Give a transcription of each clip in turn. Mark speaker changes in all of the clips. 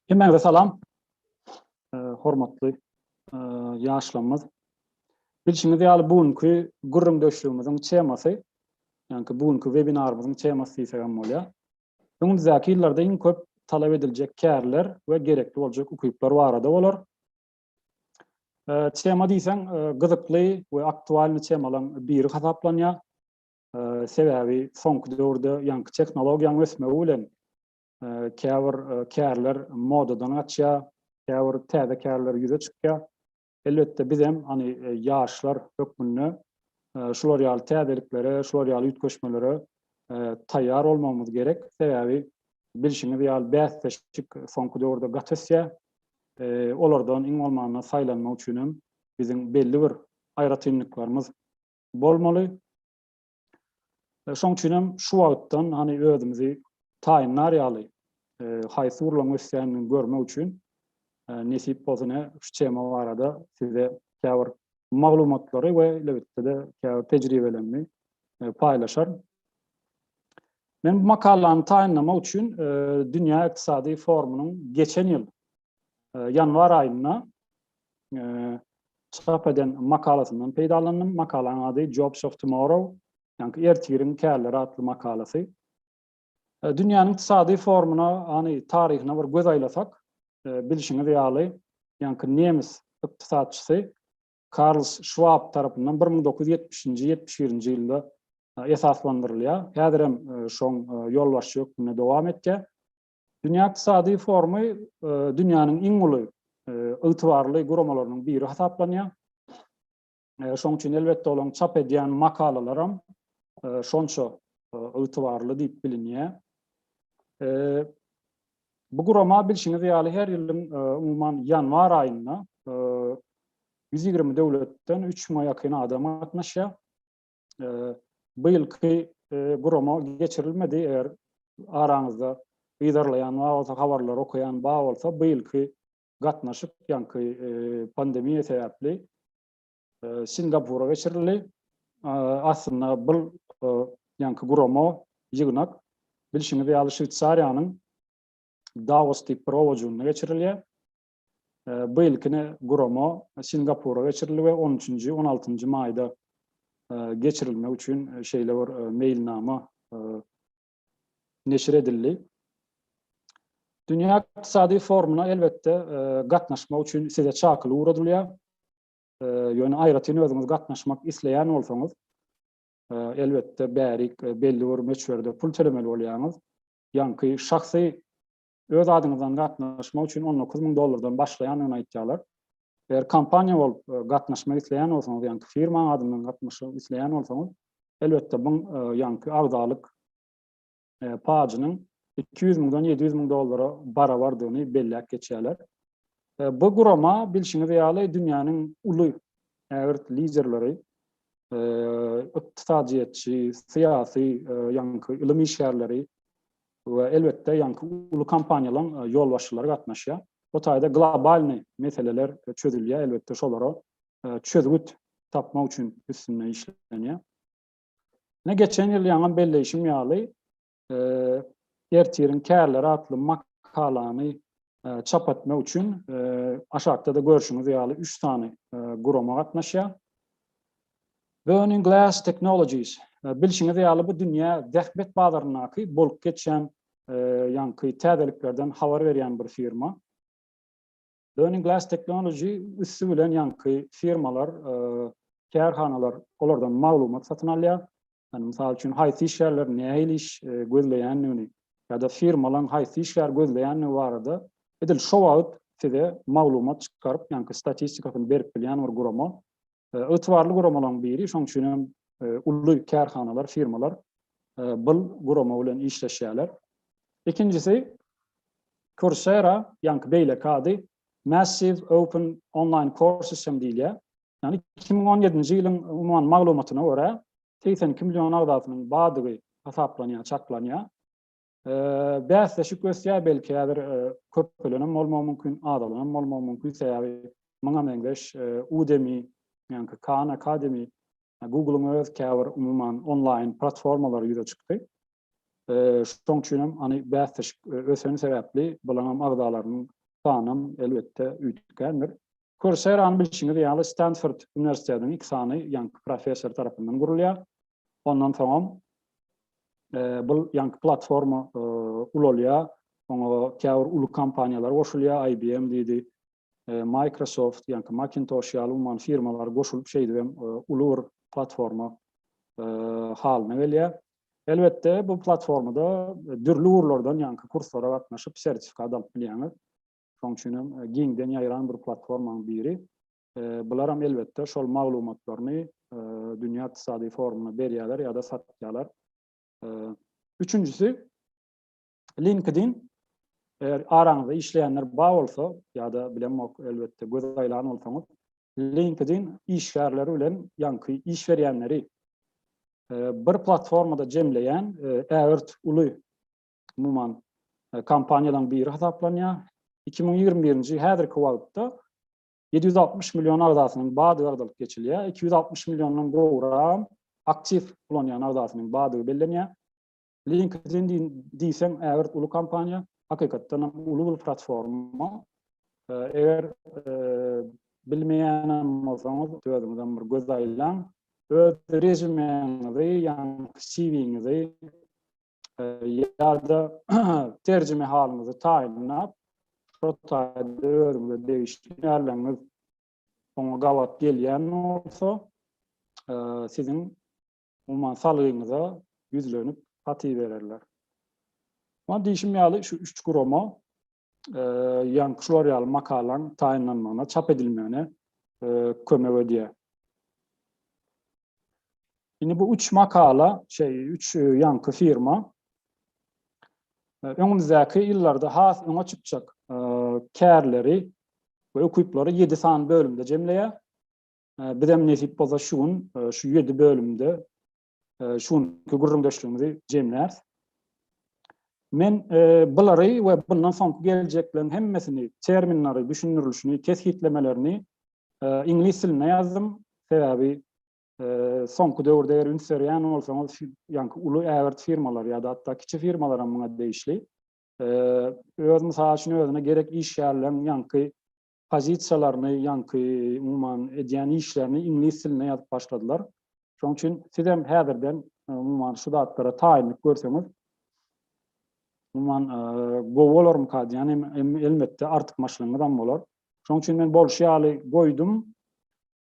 Speaker 1: Hemmäňize salam. Hormatly ýaşlarymyz. Bilşiňiz ýaly bu günki gürrüňdeşligimiziň temasy, ýaňky bu günki webinarymyzyň temasy diýsek hem bolýar. Öňümizdäki ýyllarda iň köp talap ediljek kärler we gerekli boljak ukyplar barada bolar. Tema diýseň gyzykly we aktualny temalaryň biri hasaplanýar. Sebäbi soňky döwürde ýaňky tehnologiýanyň ösmegi bilen käbir kärler modadan gaçýar, käbir täze kärler ýüze çykýar. Elbetde biz hem hani ýaşlar hökmünde şular ýaly täzeliklere, şular ýaly üýtgeşmelere taýýar bolmagymyz gerek. Sebäbi bilşiňiz ýaly bäsleşik soňky döwürde gaty ösýär. Olardan iň bolmanda saýlanmak üçin hem biziň belli bir aýratynlyklarymyz bolmaly. Şoň üçin hem şu wagtdan hany özümizi taýynlar ýaly haýsy urlaň ösýänini görmek üçin nesip bolsa ne şu tema barada size käbir maglumatlary we elbetde-de käbir tejribelerimi paýlaşaryn. Men bu makalany taýynlamak üçin Dünýä ykdysady forumynyň geçen ýyl ýanwar aýynda çap eden makalasyndan peýdalandym. Makalaň ady Jobs of Tomorrow, ýagny ertiriň kärleri atly makalasy. E, dünýäniň ykdysady formuna, ýagny taryhyna bir göz aýlasak, e, bilşiňiz ýaly, ýagny nemes ykdysatçysy Karl Schwab tarapyndan 1970-71-nji ýylda e, esaslandyrylýar. Häzir hem şoň ýolbaşçy hökmünde dowam etýär. Dünýä ykdysady forumy dünýäniň iň uly ygtybarly guramalarynyň biri hasaplanýar. Şonuň üçin elbetde olaryň çap edýän makalalaram şonça ygtybarly diýip bilinýär. Bu gurama bilşiňiz ýaly her ýylyň umuman ýanwar aýynda 120 döwletden 3000-a ýakyn adam gatnaşýar. bu ýylky gurama geçirilmedi. Eger araňyzda yzarlaýan bar bolsa, habarlary okaýan bar bolsa, bu ýylky gatnaşyk ýaňky pandemiýa sebäpli Singapura geçirildi. Aslynda bu ýaňky gurama ýygnak bilşiňiz ýaly Şweýsariýanyň Davos diýip bir owajynda geçirilýär. Bu ilkini gurama Singapura geçirildi we on üçünji, on altynjy maýda geçirilmek üçin şeýle bir meýilnama neşir edildi. Dünýä ykdysady forumyna elbetde gatnaşmak üçin size çakylyk ugradylýar. Ýöne aýratyn özüňiz gatnaşmak isleýän bolsaňyz, elbetde bärik belli bir möçberde pul tölemeli bolýaňyz. Ýaňky şahsy öz adyňyzdan gatnaşmak üçin on dokuz müň dollardan başlaýandygyny aýtýarlar. Eger kompaniýa bolup e, gatnaşmak isleýän bolsaňyz, ýaňky firmaň adyndan gatnaşmak isleýän bolsaňyz, elbetde bu e, ýaňky agzalyk e, pajynyň iki ýüz müňden ýedi ýüz müň dollara barabardygyny belläp geçýärler. Bu gurama bilşiňiz ýaly dünýäniň uly ägirt liderleri, ykdysadyýetçi, syýasy, ýaňky ylym işgärleri, we elbetde ýaňky uly kompaniýalaň ýolbaşçylary gatnaşýar. Bu taýda globalny meseleler çözülýär, elbetde şolara çözgüt tapmak üçin üstünde işlenýär. Ine geçen ýyl ýaňam belleýşim ýaly, Ertiriň kärleri atly makalany çap etmek üçin aşakda-da görşüňiz ýaly üç sany gurama gatnaşýar. Burning Glass Technologies, Bilşiňiz ýaly, bu dünýä zähmet bazaryndaky bolup geçýän ýaňky täzeliklerden habar berýän bir firma. Burning Glass Technology üsti bilen ýaňky firmalar, kärhanalar olardan maglumat satyn alýar. Ýani mysal üçin haýsy işgärler nähili iş gözleýändigini ýa-da firmalaň haýsy işgär gözleýändigi barada edil şo wagt size maglumat çykaryp, ýaňky statistikasyny berip bilýän bir gurama. Ygtybarly guramalaryň biri, şonuň üçin hem uly kärhanalar, firmalar bul gurama bilen işleşýärler. Ikinjisi Coursera, ýaňky beýleki ady Massive Open Online Courses hem diýilýär. Ýagny 2017-nji ýylyň umuman maglumatyna görä, 82 million agzasynyň bardygy hasaplanýar, çaklanýar. Bäsleşik ösýär, belki häzir köpelenem bolmagy mümkin, azalanam bolmagy mümkin, sebäbi muňa meňzeş Udemy, ýaňky Khan Academy, Google-yň öz käbir umuman onlaýn platformalary ýüze çykdy. Şoň üçin hem hany bäsleşik öseni sebäpli bulaňam agzalarynyň sanam elbetde üýtgändir. Coursera-ny bilşiňiz ýaly Stanford uniwersitetiniň iki sany ýaňky professory tarapyndan gurulýar. Ondan soňam bu ýaňky platforma ulalýar. Oňa käbir uly kompaniýalar goşulýar, IBM diýdi, Microsoft, ýaňky Macintosh ýaly umuman firmalar goşulyp şeýdibem uly bir platforma halyna gelýär. Elbetde bu platformada dürli ugurlardan ýaňky kurslara gatnaşyp sertifikat alyp bilýäňiz. Şoň üçin hem giňden ýaýran bir platformanyň biri. Bularam elbetde şol maglumatlaryny Dünýä Ykdysady Forumyna berýärler ýa-da satýarlar. Üçünjisi LinkedIn eger araňyzda işleýänler bar bolsa ýa-da bilemok elbetde göz aýlan bolsaňyz LinkedIn işgärleri bilen ýaňky iş berýänleri bir platformada jemleýän ägirt uly umuman e, kompaniýalaryň biri hasaplanýar. 2021-nji häzirki wagtda 760 million agzasynyň bady gardalyp geçilýär. 260 milliondan gowrak aktiv ulanýan agzasynyň badygy bellenýär. LinkedIn diýseň ägirt uly kompaniýa, hakykatdan hem uly bir platforma. E, eger e, bilmeýän bolsaňyz, özüňizden bir göz aýlaň. Öz rezumeňizi, ýa CV-ňizi ýa-da terjime halyňyzy taýynlap, şo taýda özüňize degişli ýerleriňiz oňa gabat gelýän bolsa, siziň umuman salgyňyza ýüzlenip, hat ibererler. Muňa diýişim ýaly, şu üç gurama ýaňky şular ýaly makalaň taýynlanmagyna, çap edilmegine kömek edýär. Indi bu üç makala, şey, üç ýaňky firma öňümizdäki ýyllarda has öňe çykjak kärleri we ukyplary 7 sany bölümde jemleýär. Bizem nesip bolsa şu gün şu 7 bölümde şu günki gürrüňdeşligimizi jemläris. Men bulary we bundan soňky geljekleriň hemmesini, terminleri, düşündirilişini, kesgitlemelerini iňlis dilinde ýazdym. Sebäbi soňky döwürde eger üns berýän bolsaňyz, ýaňky uly ägirt firmalar ýa-da hatda kiçi firmalar hem muňa degişli. Öz mysal üçin özüne gerek işgärleriň ýaňky pozisiýalaryny, ýaňky, umuman, edýän işlerini iňlis dilinde ýazyp başladylar. Şonuň üçin sizem häzirden, umuman, şu zatlara taýynlyk görseňiz, umuman, gowy bolarmyka diýýän, elbetde, artykmaçlygyňyzam bolar. Şonuň üçin men bolşy ýaly goýdum.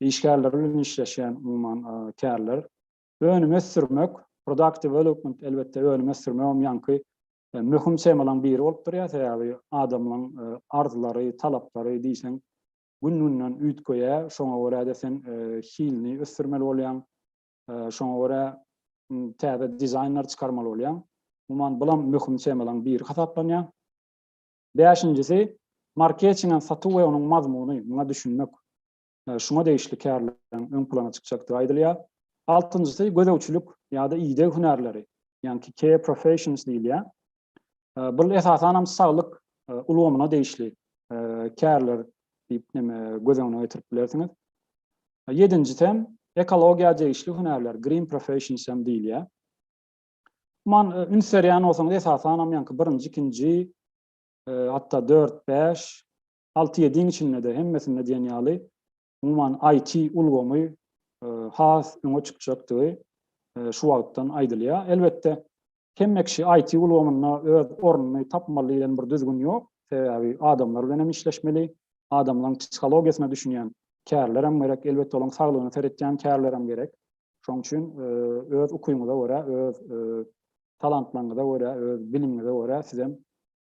Speaker 1: işgärleri bilen işleşýän umuman kärler. Önüm ösdürmek, product development, elbetde önüm ösdürmegem ýaňky möhüm temalaryň biri bolup durýar, sebäbi adamlaryň arzylary, talaplary diýseň gün-günden üýtgeýär, şoňa görä-de sen hilini ösdürmeli bolýaň, şoňa görä täze dizaýnlar çykarmaly bolýaň. Umuman bulam möhüm temalaryň biri hasaplanýar. Bäşinjisi, marketingem satuw we onuň mazmuny, muňa düşünmek. şuňa degişli kärleriň öň plana çykjakdygy aýdylýar. Altynjysy gözegçilik ýa-da ideg hünärleri, ýaňky care professions diýilýär. Bul esasan hem saglyk ulgamyna degişli kärler diýip näme göz öňüne getirip bilersiňiz. Ýedinjisi hem ekologiýa degişli hünärler, green professions hem diýilýär. Man üns berýän bolsaňyz esasan hem ýaňky birinji, ikinji, hatda dört, bäş, alty-ýediň içinde-de hemmesinde diýen ýaly umuman IT ulgamy has öňe çykjakdygy şu wagtdan aýdylýar. Elbetde, hemme kişi IT ulgamynda öz ornuny tapmaly diýlen bir düzgün ýok. Sebäbi adamlar bilen hem işleşmeli, adamlaryň psihologiýasyna düşünýän kärler hem gerek, elbetde olaryň saglygyna seretýän kärler hem gerek. Şonuň üçin öz ukyňyza görä, öz talantlaryňyza görä, öz bilimiňize görä siz hem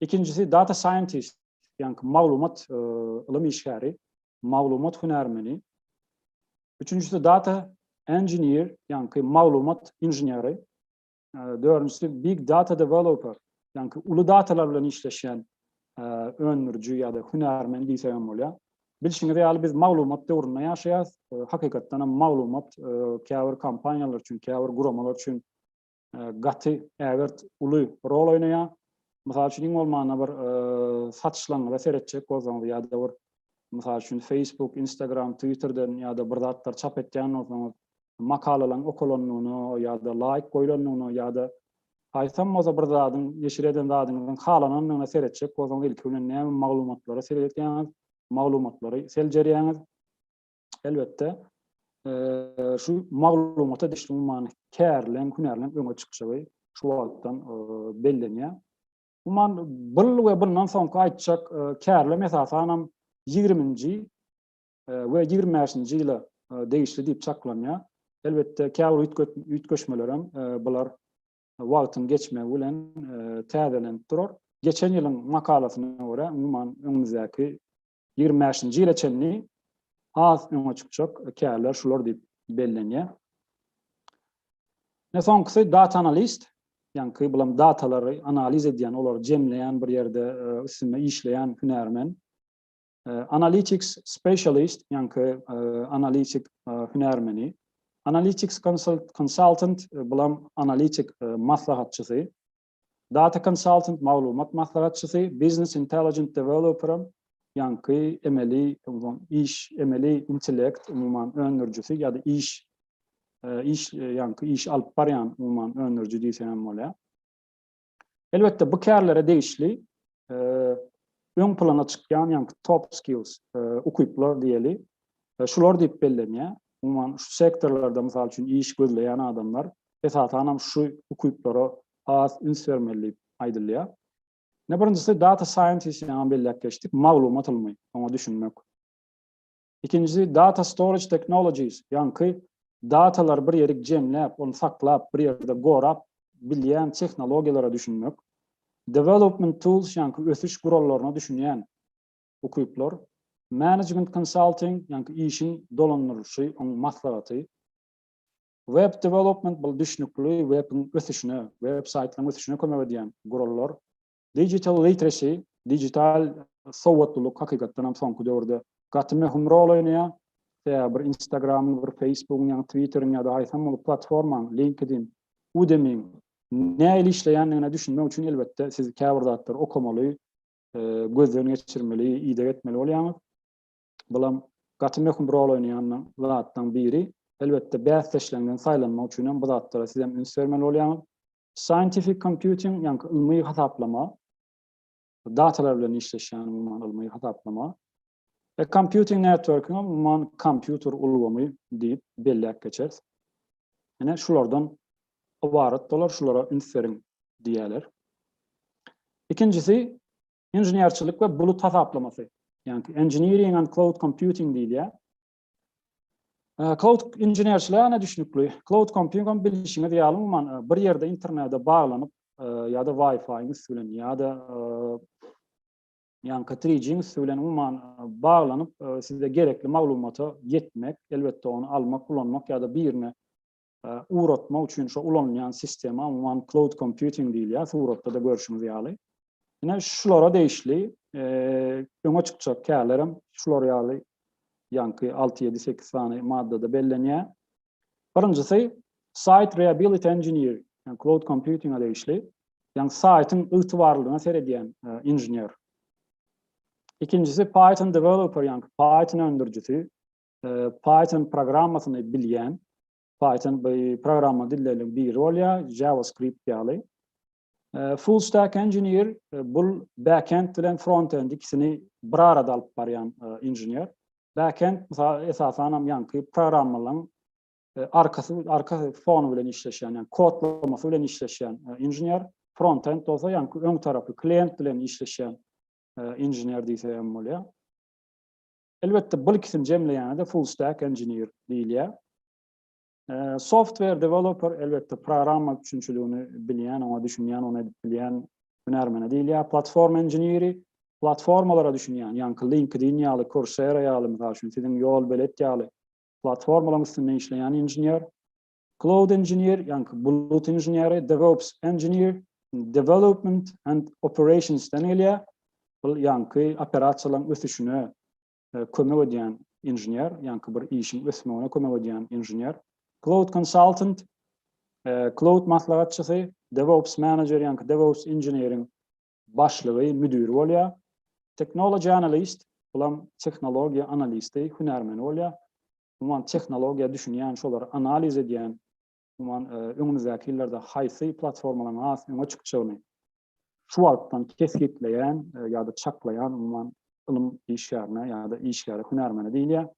Speaker 1: Ikinjisi data scientist, ýaňky maglumat e, ylym işgäri, maglumat hünärmeni. Üçünjisi data engineer, ýaňky maglumat inženeri. E, dördünjisi big data developer, ýaňky uly datalar bilen işleşýän e, öndüriji ýa-da hünärmen diýsek hem bolýar. Bilşiňiz ýaly biz maglumat döwründe ýaşaýarys. Hakykatdan hem maglumat käbir kompaniýalar üçin, käbir guramalar üçin gaty ägirt uly rol oýnaýar. Mysal üçin, iň bolmanda bir satyşlaňňyza seretjek bolsaňyz ýa-da bir, mysal üçin, Facebook, Instagram, Twitterden ýa-da bir zatlar çap etýän bolsaňyz, makalalaryň okalandygyna ýa-da laýk goýlandygyna ýa-da aýtsam bolsa bir zadyň, neşir eden zadyňyzyň halanandygyna seretjek bolsaňyz, ilki bilen näme maglumatlary seredýäňiz, maglumatlary seljerýäňiz. elbetde şu maglumata düşlüň many kärlen hünärlen öňe çykşygy şu wagtdan bellenýär. Umuman bul we bundan soňky aýtjak kärlem esasanam 20-nji we 25-nji ýyla degişli diýip çaklanýar. Elbetde käbir üýtgeşmeler hem bular wagtyň geçmegi bilen täzelenip durar. Geçen ýylyň makalasyna görä umuman öňümizdäki Ýigrimi bäşinji ýyla çenli has öňe çykjak kärler şular diýip bellenýär. Ne soňkusy data analist, ýaňky bulam datalary analiz edýän, olary jemleýän bir ýerde e, üstünde işleýän hünärmen. E, analytics specialist, ýaňky e, analitik hünärmeni. Analytics consultant, bulam analitik maslahatçysy. Data Consultant maglumat maslahatçysy, Business Intelligent Developeram, ýaňky emeli iş, emeli intellekt, umuman, öndürijisi ýa-da iş, iş, ýaňky iş alyp barýan, umuman, öndüriji diýseň hem bolýar. Elbetde, bu kärlere degişli öň plana çykýan, ýaňky top skills, ukyplar diýeli, e, şular diýip bellenýär. Umuman şu sektorlarda mysal üçin iş gözleýän adamlar esasan hem şu ukyplara has üns bermeli diýip aýdylýar. Ne birinjisi data scientist ýa belläp geçdik, maglumat ylmy, oňa düşünmek. Ikinjisi data storage technologies, ýaňky datalar bir ýerik jemläp, ony saklap, bir ýerde gorap bilýän tehnologiýalara düşünmek. Development tools, ýaňky ösüş gurallaryna düşünýän ukyplar, management consulting, ýaňky işiň dolandyrylyşy, oň maslahaty, web development, bul düşnükli webiň ösüşine, web saýtlaryň ösüşine kömek edýän gurallar, digital literacy, digital sowatlylyk hakykatdan hem soňky döwürde gaty möhüm rol oýnaýar, sebäbi bir Instagramyň, bir Facebookyň, ýa-ni Twitteriň ýa-da haýsam bir platformanyň, LinkedIn, Udemy-iň nähili işleýändigine düşünmek üçin elbetde siz käbir zatlary okamaly, gözden geçirmeli, ideg etmeli bolýaňyz. Bulam gaty möhüm rol oýnaýan zatlaryň biri. Elbetde, bäsdeşleriňden saýlanmak üçin hem bu zatlara siz hem üns bermeli bolýaňyz. Scientific computing, ýaňky ylmy hasaplama, datalar bilen işleşýän umuman ylmy hasaplama. A computing network-iňe umuman kompýuter ulgamy diýip belläp geçeris. Ine şulardan ybarat bolar, şulara üns beriň diýerler. Ikinjisi inženerçilik we bulut hasaplamasy. Ýagny engineering and cloud computing diýilýär. Cloud inženerçiligine düşnükli. Cloud computing bilişiňiz ýaly umuman bir ýerde internete baglanyp ýa-da Wi-Fi-iň üsti bilen ýa-da Ýaňky Three Jinx bilen umuman baglanyp size gerekli maglumata ýetmek, elbetde ony almak, ulanmak ýa-da birine ugratmak üçin şo ulanylýan sistema umuman cloud computing diýilýär, suratda-da görşüňiz ýaly. Ine şulara degişli öňe çykjak kärlerem şular ýaly ýaňky alty, ýedi, sekiz sany maddada bellenýär. Birinjisi Site Reability Engineer, ýagny cloud computing-a degişli, ýagny saýtyň ygtybarlylygyna seredýän inžener. Ikinjisi Python Developer, ýagny Python öndürijisi, Python programmasyny bilýän, Python bu programma dilleriniň biri bolýar, JavaScript ýaly. Full stack engineer bul backend bilen frontend ikisini bir arada alyp barýan inžener. Backend mysal esasan hem ýaňky programmalaryň arkasy arka fonu bilen işleşýän, ýagny kodlamasy bilen işleşýän inžener. Frontend bolsa ýaňky öň tarapy klient bilen işleşýän inžener diýse hem bolýar. Elbetde bul ikisini jemleýände full stack engineer diýilýär. Software developer elbetde programma üçinçiligini bilýän, oňa düşünýän, ony edip bilýän hünärmene diýilýär. Platforma inženeri platformalara düşünýän, ýaňky LinkedIn ýaly, Coursera ýaly, mysal üçin, siziň Ýolbelet ýaly platformalaryň üstünde işleýän inžener. Cloud inžener, ýaňky bulut inženeri, DevOps engineer, development and operationsden gelýär. Bul ýaňky operasiýalaryň ösüşine kömek edýän inžener, ýaňky bir işiň ösmegine kömek edýän inžener, cloud consultant, cloud maslahatçysy, DevOps manager, ýaňky DevOps inženeriň başlygy, müdiri bolýar. Technology analyst, bulam tehnologiýa analisti, hünärmeni bolýar. Umuman tehnologiýa düşünýän, şolary analiz edýän umuman, öňümizdäki ýyllarda haýsy platformalaryň has öňe çykjagyny şu wagtdan kesgitleýän ýa-da çaklaýan, umuman, ylym işgärine ýa-da işgäre, hünärmene diýilýär.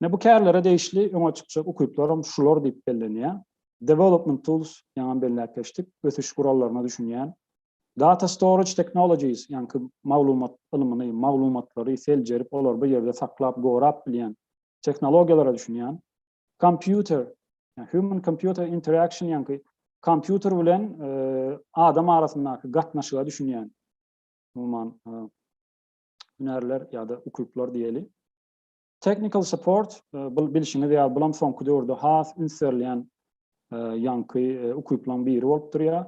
Speaker 1: Ine, bu kärlere degişli öňe çykjak ukyplar hem şular diýip bellenýär. Development tools, ýaňam belläp geçdik, ösüş gurallaryna düşünýän. Data storage technologies, ýaňky maglumat ylmyny, maglumatlary seljerip, olary bir ýerde saklap, gorap bilýän tehnologiýalara düşünýän. Kompýuter, human computer interaction ýaňky kompýuter bilen adam arasyndaky gatnaşyga düşünýän umuman hünärler ýa-da ukyplar diýeli. Technical support, bu bilşiňiz ýaly, bulam soňky döwürde has üns berilýän ýaňky ukyplaryň biri bolup durýar.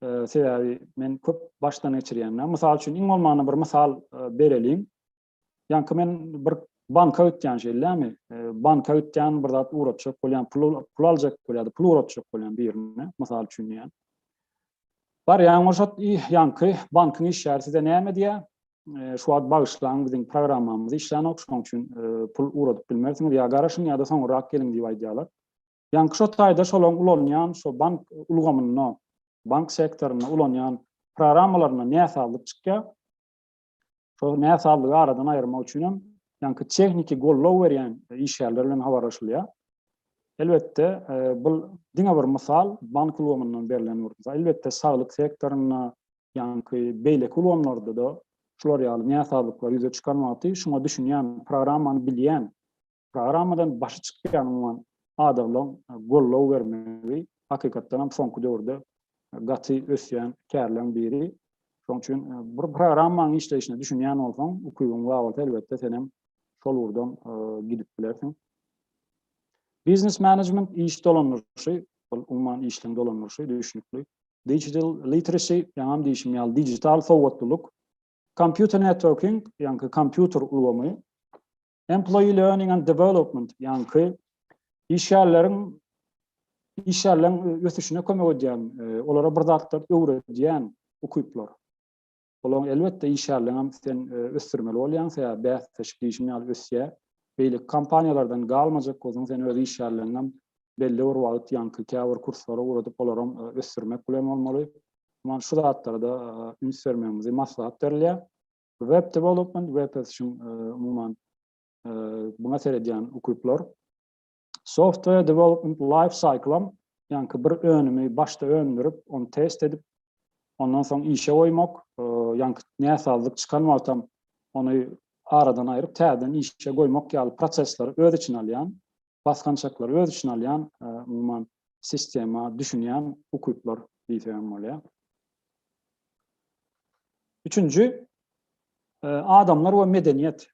Speaker 1: Sebäbi men köp başdan geçirýän. Mysal üçin, iň bolmanda bir mysal bereliň. Ýaňky men bir banka ötýän şeýlämi? E, banka ötýän bir zat uratjak bolýan, pul pul aljak bolýardy, pul uratjak bolýan birine, mysal üçin diýýän. Barýan bolşat, ýaňky bankyň işgäri size näme diýýär? E, şu wagt bagyşlaň biziň programmamyz işlänok, şonuň üçin e, pul uradyp bilmersiňiz, ýa garaşyň ýa-da soňurrak geliň diýip aýdýarlar. Ýaňky şo taýda şolaryň ulanýan şu bank ulgamynda, bank sektorynda ulanýan programmalaryna näsazlyk çykýar. Şol näsazlygy aradan aýyrmak üçin hem ýaňky tehniki goldaw berýän işgärler bilen habarlaşylýar. Elbetde, bu diňe bir mysal, bank ulgamyndan berlen bir mysal. Elbetde, saglyk sektorynda, ýaňky beýleki ulgamlarda-da şular ýaly näsazlyklar ýüze çykarmaty, şuňa düşünýän, programmany bilýän Programmadan başy çykýan umuman adamlaryň goldaw bermegi hakykatdan hem soňky döwürde gaty ösýän kärleň biri. Şoň üçin bir programmanyň işleýşine düşünýän bolsaň, ukybyň bar bolsa elbetde sen hem şol ugurdan gidip bilersiň. Biznes management iş dolandyryşy, bul umuman işleň dolandyryşy düşünikli. Digital literacy, ýaňam diýişim ýaly digital sowatlylyk. Computer networking, ýaňky kompýuter ulgamy. Employee Learning and Development, ýaňky işgärleriň işgärleriň e, ösüşine kömek edýän, e, olara bir zatlar öwredýän ukyplar. Olaň elbetde işgärleriň hem sen e, ösdürmeli bolýan, sen bäsleşik işin ýaly ösýär. Beýle kompaniýalardan galmajak bolsaň, sen öz işgärleriň hem belli bir wagt ýaňky käbir kurslara ugradyp, olar hem ösdürmek bilen bolmaly. Muňa şu zatlara da üns bermegimizi maslahat berilýär. Web development, web ösüşiň umuman buna seredýän ukyplar. Software development life cycle, ýaňky bir önümi başda öndürip, ony test edip, ondan soň işe goýmak, ýaňky näsazlyk çykan wagtam ony aradan aýryp, täzeden işe goýmak ýaly prosesleri öz içine alýan basgançaklary öz içine alýan, umuman, sistema düşünýän ukyplar diýsek hem bolýar. Üçünji, adamlar we medeniýet,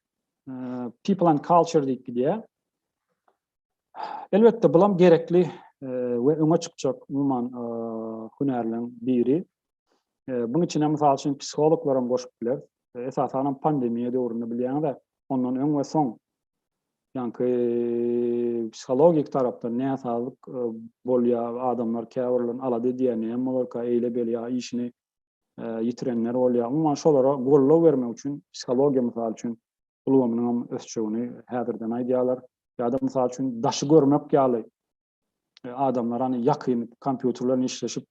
Speaker 1: people and culture diýip gidýär. Elbetde, bulam gerekli we öňe çykjak umuman hünärleriň biri. Bunuň içine, mysal üçin, psihologlar hem goşup biler. Esasan hem pandemiýa döwründe bilýäňiz-ä, ondan öň we soň Ýaňky psihologik tarapdan näsazlyk bolýar, adamlar käbirlerini alada edýär, näme bolarka eýle-beýle ýa işini ýitirenler bolýar. Umuman şolara goldaw bermek üçin psihologiýa mysal üçin ulgamynyň hem ösjegini häzirden aýdýarlar. Ýa-da mysal üçin daşy görmek ýaly adamlar hany ýakyn kompýuter bilen işleşip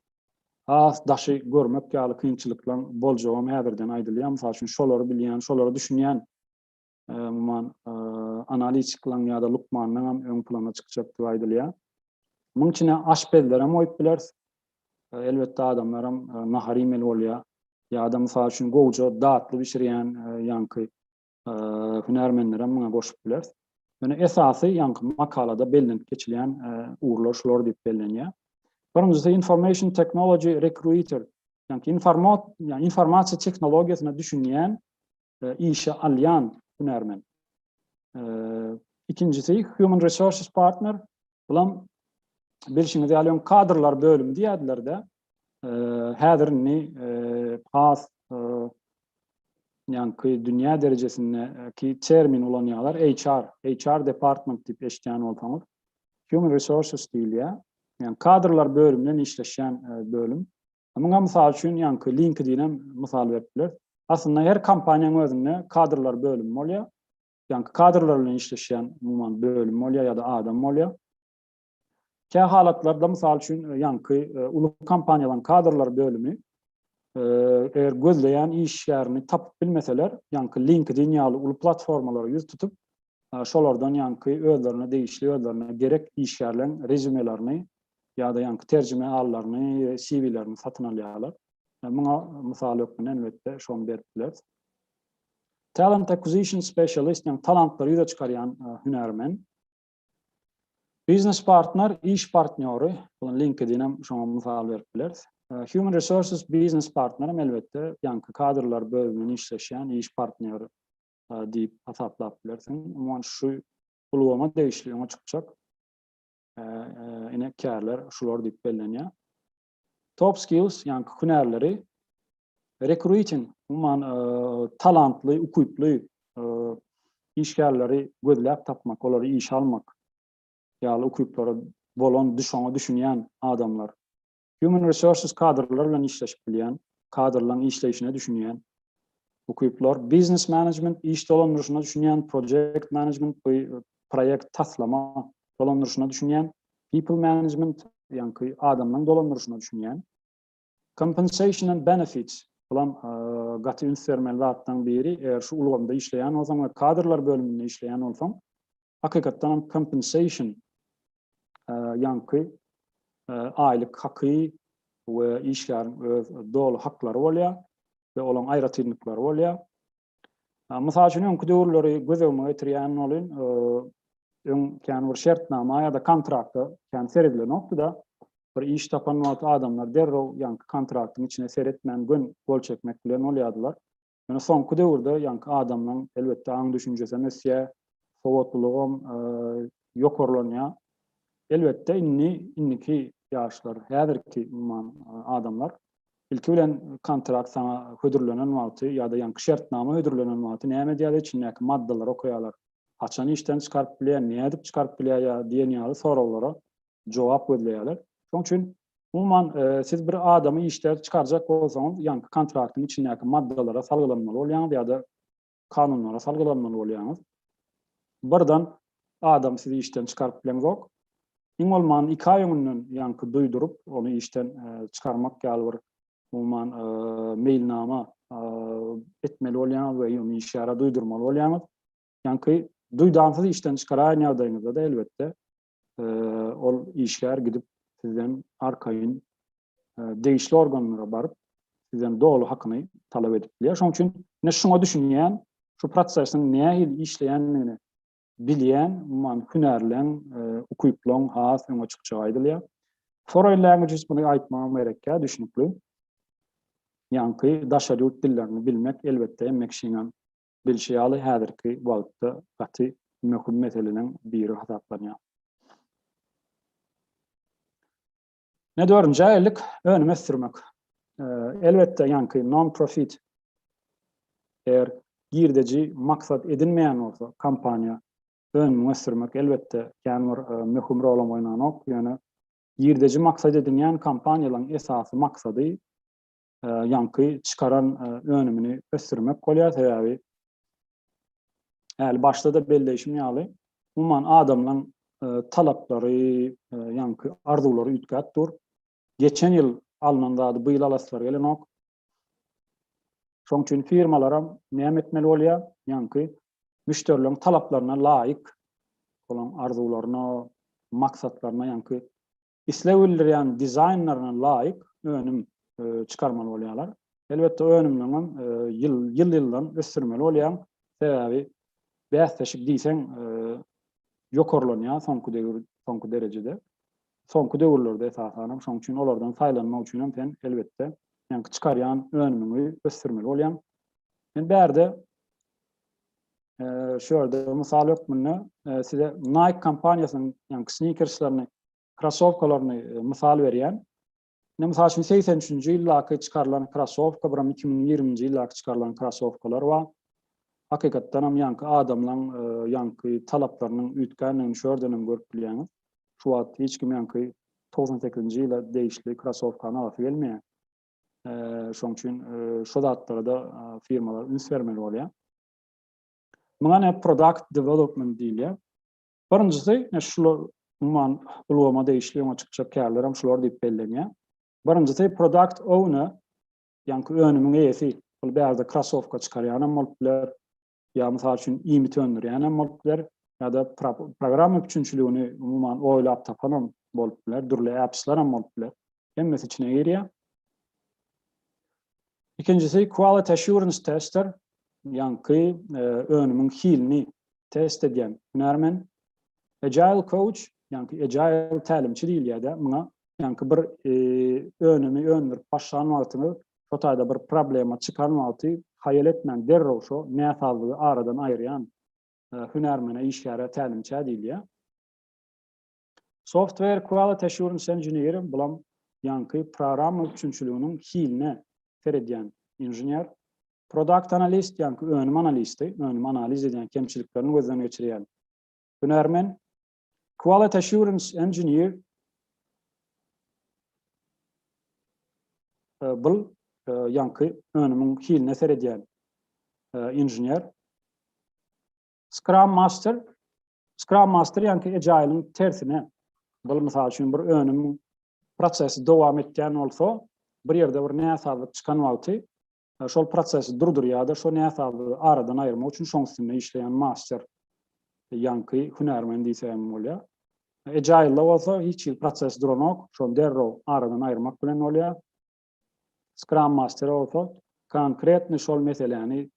Speaker 1: has daşy görmek ýaly kynçylyklaryň boljagam häzirden aýdylýar. Mysal üçin şolary bilýän, şolara düşünýän umuman analitikleň ýa-da lukmanlaryň hem öň plana çykjak diýip aýdylýar. Munuň içine aşpezler hem goýup bileris. Elbetde adamlar hem nahar iýmeli bolýar. Ýa-da mysal üçin gowja datly bişirýän ýaňky hünärmenleri hem muňa goşup bileris. Ýöne esasy ýaňky makalada bellenip geçilýän ugurlar şular diýip bellenýär. Birinjisi information technology recruiter. Ýaňky informasiýa tehnologiýasyna düşünýän e, işe alýan hünärmen. E, ikinjisi Human Resources Partner. Bulam bilşiňiz ýaly öň kadrlar bölümi diýýärdiler-de. E, häzir indi e, has e, ýaňky dünýä derejesindäki termin ulanýarlar HR, HR department diýip eşitýän bolsaňyz. Human Resources diýilýär. Yani kadrlar bölümünden işleşen e, bölüm. Muňa mysal üçin ýaňky LinkedIn-em mysal berip bileris. Aslynda her kompaniýanyň özünde kadrlar bölümi bolýar. Ýaňky kadrlar bilen işleşýän umuman bölüm bolýar ýa-da adam bolýar. Kä halatlarda mysal üçin ýaňky uly kompaniýalaryň kadrlar bölümi eger gözleýän işgärini tapyp bilmeseler, ýaňky LinkedIn ýaly uly platformalara ýüz tutup, şolardan ýaňky özlerine degişli, özlerine gerek işgärleriň rezýumelaryny ýa-da ýaňky terjime alylaryny, CV-lerini satyn alýarlar. Muňa mysal hökmünde elbetde şony berip bileris. Talent Acquisition Specialist, ýagny talantlary ýüze çykarýan hünärmen. Biznes partner, iş partnýory, bu LinkedIn hem şoňa mysal berip bileris. Human Resources Biznes partner hem elbetde ýaňky kadrlar bölüminde işleşýän iş partnýory diýip hasaplap bilersiň. Umuman şu ulgama degişli öňe çykjak ine kärler şular diýip bellenýär. Top skills ýa-ni hünärleri rekruting umuman talantly, ukyply işgärleri gözläp tapmak, olary işe almak ýaly ukyplary bolan, düşünýän adamlar Human Resources kadrlar bilen işleşip bilýän, kadrlaryň işleýşine düşünýän, ukyplar, Business Management iş dolandyryşyna düşünýän, Project Management bu proýekt taslama dolandyryşyna düşünýän, People Management ýaňky adamlaryň dolandyryşyna düşünýän, Compensation and Benefits bulam gaty üns bermeli zatlaryň biri, eger şu ulgamda işleýän bolsaň we kadrlar bölüminde işleýän bolsaň, hakykatdan hem compensation ýaňky aýlyk haky we işgäriň öz doly haklary bolýar we olaň aýratynlyklary bolýar. Mysal üçin, öňki döwürleri göz öňüme getirýän bolyn, öň kän bir şertnama ýa-da kontraktda kän seredilnokdy-da, bir iş tapan wagty adamlar derrew ýaňky kontraktyň içine seretmän gön gol çekmek bilen bolýardylar. Ýöne soňky döwürde ýaňky adamlaryň elbetde aň düşünjesi hem ösýär, sowatlylygy hem ýokarlanýar. Elbetde indi indiki ýaşlar, häzirki umuman adamlar ilki bilen kontrakt saňa hödürlenen wagty ýa-da ýaňky şertnama hödürlenen wagty näme edýärler, içindäki maddalary okaýarlar. Haçan işden çykaryp bilýär, nädip çykaryp bilýär ýa diýen ýaly soraglara jogap gözleýärler. Şonuň üçin umuman e, siz bir adamy işden çykarjak bolsaňyz, ýaňky kontraktyň içindäki maddalara salgylanmaly bolýaňyz ýa-da kanunlara salgylanmaly bolýaňyz. Birden adam sizi işden çykaryp bileňok. Iň bolman 2 aý öňünden ýaňky duýduryp, ony işden e, çykarmak ýaly bir umuman e, meýilnama e, etmeli bolýaňyz we ýöne işgäre duýdurmaly bolýaňyz. Ýaňky duýdansyz işden çykaraýan ýagdaýyňyzda-da elbetde ol işgär gidip sizden arkaýyn degişli organlara baryp sizden doly hakyny talap edip bilýär. Şonuň üçin ne şuňa düşünýän, şu prosesiň nähili işleýändigini bilýän, umuman hünärleň, ukyplaň has öňe çykjagy aýdylýar. Foreign languages bunu aýtmagym gerekkä düşünikli. Ýaňky daşary ýurt dillerini bilmek elbetde emmek şiňem Bilşi ýaly, häzirki wagtda gaty möhüm meseleleriň biri hasaplanýar. Network jaýlyk önüm ösdürmek. Elbetde, ýaňky non-profit eger girdeji maksat edinmeýän bolsa, kompaniýa önümi ösdürmek elbetde kän bir möhüm rolam oýnanok, ýöne girdeji maksat edinýän kompaniýalaryň esasy maksady ýaňky çykaran önümini ösdürmek bolýar, sebäbi äli başda-da belleýşim ýaly, umuman adamlaryň talaplary, ýaňky arzuwlary üýtgäp dur. Geçen ýyl alnan zady bu ýyl alasylary gelenok. Şonuň üçin firmalaram näme etmeli bolýar? Ýaňky müşderileriň talaplaryna laýyk, olaryň arzuwlaryna, maksatlaryna ýaňky isleg bildirýän dizaýnlaryna laýyk önüm çykarmaly bolýarlar. Elbetde önümleň hem ýyl-ýyldan ösdürmeli bolýaň, sebäbi bäsleşik diýseň ýokarlanýar soňky döwür, soňky derejede. Soňky döwürlerde esasan hem, şonuň üçin olardan saýlanmak üçin hem sen elbetde seňki çykarýan önümiňi ösdürmeli bolýaň. Men bärde şu ýerde mysal hökmünde size Nike kompaniýasynyň ýaňky snikerslaryny krossowkalaryny mysal berýän. Indi mysal üçin 83-nji ýyldaky çykarylan krossowka biram 2020-nji ýyldaky çykarylan krossowkalar bar. Hakykatdan hem ýaňky adamlaryň ýaňky talaplarynyň üýtgändigini şu ýerden hem görüp bilýäňiz. Şu wagt hiç kim ýaňky 98-nji ýyla degişli krossowkany alasy gelmeýär. Şonuň üçin şu zatlara-da firmalar üns bermeli bolýar. Muňa näme product development diýilýär. Birinjisi, şular umuman ulgama degişli öňe çykjak kärler hem şular diýip bellenýär. Birinjisi product owner, ýaňky önümiň eýesi. Ol bärde krossowka çykarýan hem bolup biler, ýa mysal üçin iýmit öndürýän hem bolup biler, ýa-da programma üpjünçiligini umuman oýlap tapan hem bolup biler, dürli appsler hem bolup biler. Hemmesi içine girýär. Ikinjisi quality assurance tester. Ýaňky e, önümiň hilini test edýän hünärmen. Agile coach, ýaňky agile tälimçi diýilýär-de, muňa ýaňky bir e, önümi öndürip başlan wagtyňyz şo taýda bir problema çykan wagty haýal etmän derrew şo näsazlygy aradan aýyrýan e, hünärmene, işgäre tälimçä diýilýär. Software Quality Assurance Engineer, bulam ýaňky programma üpjünçiliginiň hiline seredýän inžener. Product Analyst, ýaňky önüm analisti, önümi analiz edýän, kemçiliklerini gözden geçirýän hünärmen. Quality Assurance Engineer, bul ýaňky önümiň hiline seredýän inžener. Scrum Master Scrum Master ýanki Agile-iň tersine. Bul mysal üçin bir önüm prosesi dowam etýän bolsa, bir ýerde bir näsazlyk çykan wagty e, şol prosesi durdurýar-da, şo näsazlygy aradan aýyrmak üçin şoň üstünde işleýän master ýanky hünärmen diýsem bolýar. Agile-da bolsa hiç hili proses duranok, şony derrew aradan aýyrmak bilen bolýar. Scrum Master bolsa konkretny şol meseläni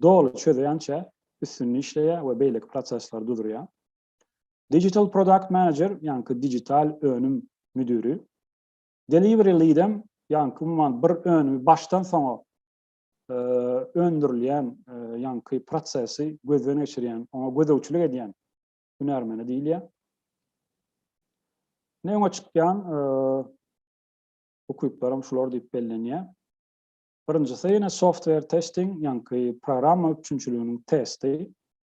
Speaker 1: doly çözýänçä üstünde işleýär we beýleki prosesleri duzurýar. Digital Product Manager, ýaňky digital önüm müdiri, Delivery Lead-em, ýaňky umuman bir önümi başdan soňa öndürilýän ýaňky prosesi gözden geçirýän, oňa gözegçilik edýän hünärmene diýilýär. Ne öňe çykýan ukyplaram şular diýip bellenýär. Birinjisi ýene software testing, ýaňky programma üpjünçiliginiň testi,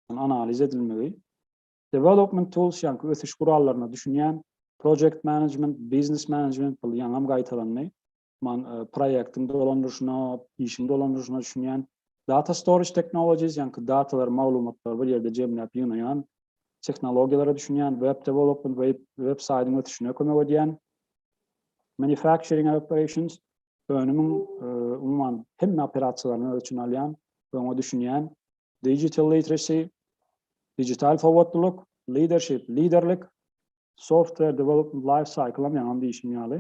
Speaker 1: analiz edilmegi. Development tools, ýaňky ösüş gurallaryna düşünýän, project management, business management, bul ýaňam gaýtalandy. Man proýektiň dolandyryşyna, işiň dolandyryşyna düşünýän. Data storage technologies, ýaňky datalary, maglumatlary bir ýerde jemläp ýygnaýan tehnologiýalara düşünýän, web development, web saýdyň ösüşine kömek edýän. Manufacturing operations, önümiň umuman hemme operasiýalaryny öz içine alýan, öňe düşünýän. Digital literacy, digital sowatlylyk, leadership, liderlik, software development life cycle hem ýaňam diýşim ýaly,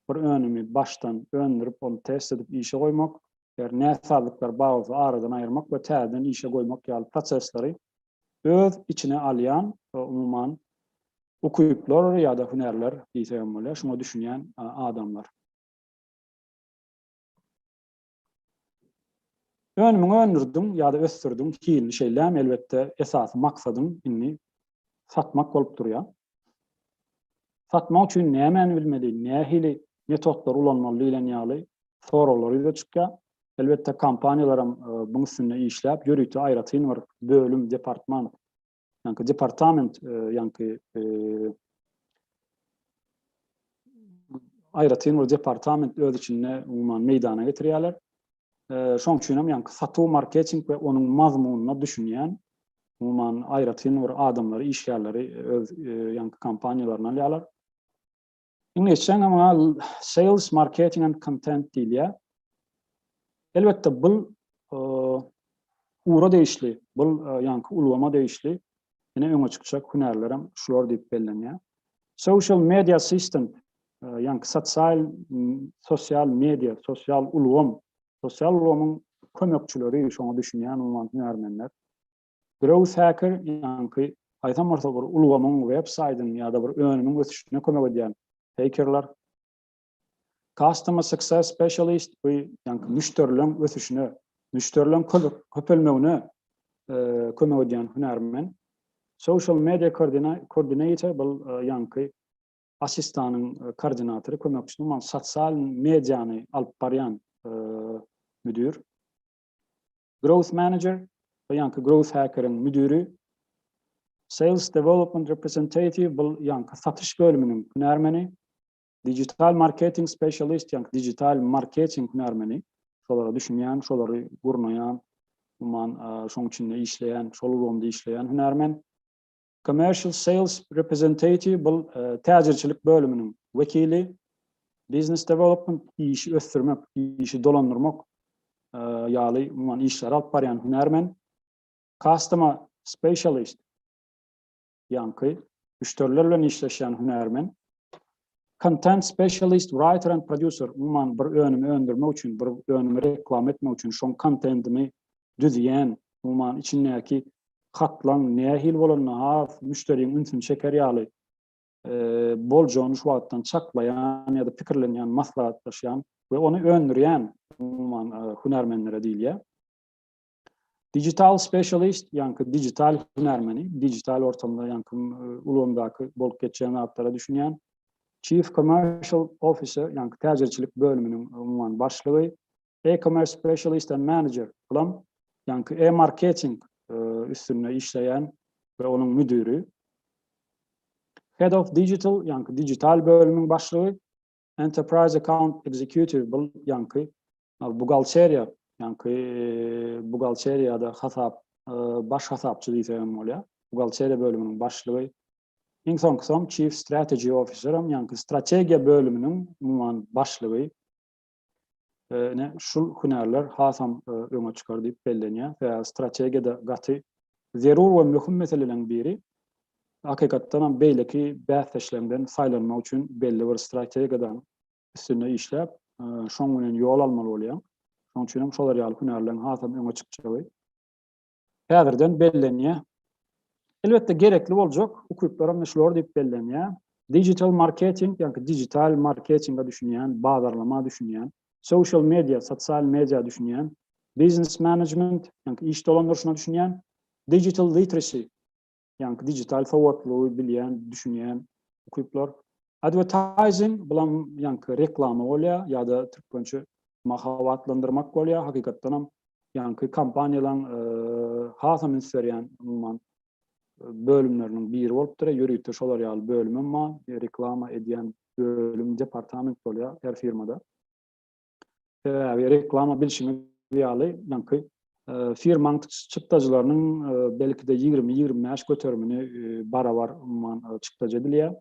Speaker 1: bir önümi başdan öndürip, ony test edip işe goýmak, eger näsazlyklar bar bolsa aradan aýyrmak we täzeden işe goýmak ýaly prosesleri öz içine alýan, umuman, ukyplar ýa-da hünärler diýsek hem bolýar, şuňa düşünýän adamlar. Önümiňi öndürdiň ýa-da ösdürdiň, hilini şeýlämi, elbetde, esasy maksadyň indi satmak bolup durýar. Satmak üçin nämäni bilmeli, nähili metodlary ulanmaly diýlen ýaly soraglar ýüze çykýar. Elbetde kompaniýalaram buň üstünde işläp, ýörite aýratyn bir bölüm, departman, ýaňky departament, ýaňky aýratyn bir departament öz içinde umuman meýdana getirýärler. Şoň üçin hem ýaňky satuw, marketing we onuň mazmunyna düşünýän umuman aýratyn bir adamlary, işgärleri öz ýaňky kompaniýalaryna alýarlar. Indi geçen ama sales, marketing and content diýilýär. Elbetde bu ura degişli, bu ýaňky ulgama degişli ine öňe çykjak hünärler hem şular diýip bellenýär. Social media assistant ýaňky sosial sosial media, sosial ulgam, sosial ulgamyň kömekçileri şoňa düşünýän umuman hünärmenler. Growth Hacker, ýaňky haýsam bolsa bir ulgamyň, web saýdyň ýa-da bir önümiň ösüşine kömek edýän hekerler. Customer Success Specialist, bu ýaňky müşderileň ösüşine, müşderileň köpelmegine kömek edýän hünärmen. Social Media Coordinator, bu ýaňky assistanyň koordinatory, kömekçisi, sosial mediany alyp barýan müdir. Growth Manager, bu ýaňky Growth Hacker-iň müdiri, Sales Development Representative, bu ýaňky satyş bölüminiň hünärmeni, Digital Marketing Specialist, ýaňky digital marketing hünärmeni, şolara düşünýän, şolary gurnaýan, umuman, şoň içinde işleýän, şol ulgamda işleýän hünärmen, Commercial Sales Representative bul täjirçilik bölüminiň wekili, Business Development işi ösdürmek, işi dolandyrmak ýaly umuman işleri alyp barýan hünärmen, Customer Specialist ýaňky müşderiler bilen işleşýän hünärmen, Content specialist, writer and producer, umuman bir önümi öndürmek üçin, bir önümi reklama etmek üçin şoň kontentini düzýän, umuman içindäki hatlaň nähili bolanda has müşderiň ünsüni çeker ýaly boljagyny şu wagtdan çaklaýan ýa-da pikirlenýän, maslahatlaşýan we ony öndürýän umuman hünärmenlere diýilýär. Digital specialist, ýaňky digital hünärmeni, digital ortamda ýaňky ulgamdaky bolup geçýän zatlara düşünýän. Chief commercial officer, ýaňky täjirçilik bölüminiň umuman başlygy. E-commerce specialist and manager, bulam ýaňky e-marketing üstünde işleýän we onuň müdiri. Head of digital, ýaňky digital bölüminiň başlygy. Enterprise Account Executive bul ýaňky bugalteriýa, ýaňky bugalteriýada hasap baş hasapçy diýse hem bolýar. Bugalteriýa bölüminiň başlygy. Iň soňkusy hem Chief Strategy Officer hem ýaňky strategiýa bölüminiň umuman başlygy. Ine şul hünärler hasam öňe çykar diýip bellenýär. Sebäbi strategiýada gaty zerur we möhüm meseleleriň biri hakykatdanam beýleki bäsdeşleriňden saýlanmak üçin belli bir strategiýadan üstünde işläp, şoň bilen ýol almaly bolýaň. Şoň üçin hem şolar ýaly hünärleriň hasam öňe çykjagy häzirden bellenýär. Elbetde gerekli boljak ukyplaram da şular diýip bellenýär. Digital marketing, ýagny digital marketinge düşünýän, bazarlama düşünýän, social media, sosial media düşünýän, biznes management, ýagny iş dolandyryşyna düşünýän, digital literacy, ýaňky digital sowatlygy bilýän, düşünýän ukyplar. Advertising bilen ýaňky reklama bolýar ýa-da türkmençe mahabatlandyrmak bolýar. Hakykatdan hem ýaňky kompaniýalaryň e, hasam üns berýän umuman bölümleriniň biri bolupdyr. Ýörite şolar ýaly bölüm hem bar. Reklama edýän bölüm, departament bolýar her firmada. Sebäbi reklama bilşimiz ýaly, öňki firmaň çykdajylarynyň belki-de ýigrimi, ýigrimi bäş göterimini barabar umuman çykdajy edilýär.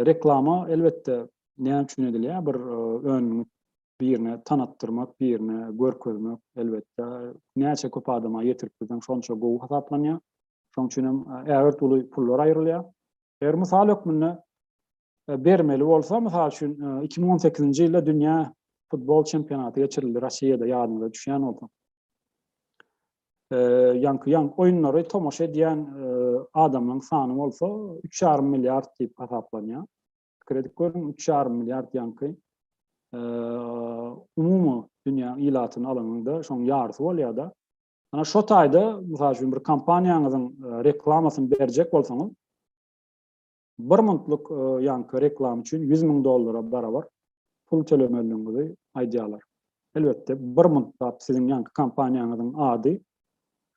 Speaker 1: Reklama elbetde näme üçin edilýär? Bir önümi birine tanatdyrmak, birine görkezmek elbetde näçe köp adama ýetirip bilseň şonça gowy hasaplanýar. Şoň üçin hem ägirt uly pullar aýrylýar. Eger mysal hökmünde bermeli bolsa, mysal üçin, iki müň on sekizinji ýylda dünýä futbol çempionaty geçirildi Rossiýada, ýadyňyza düşýän bolsa. Ýaňky ýan oýunlary tomaşa edýän adamlaryň sany bolsa üç ýarym milliard diýip hasaplanýar. Pikir edip görüň, üç ýarym milliard ýaňky umumy dünýä ilatyny alanyňda şoň ýarysy bolýar-da. Ana şo taýda, mysal üçin, bir kompaniýaňyzyň reklamasyny berjek bolsaňyz, Bir muntlyk ýaňky reklama üçin ýüz müň dollara barabar pul tölemelidigiňizi aýdýarlar. Elbetde, bir muntlap siziň ýaňky kompaniýaňyzyň ady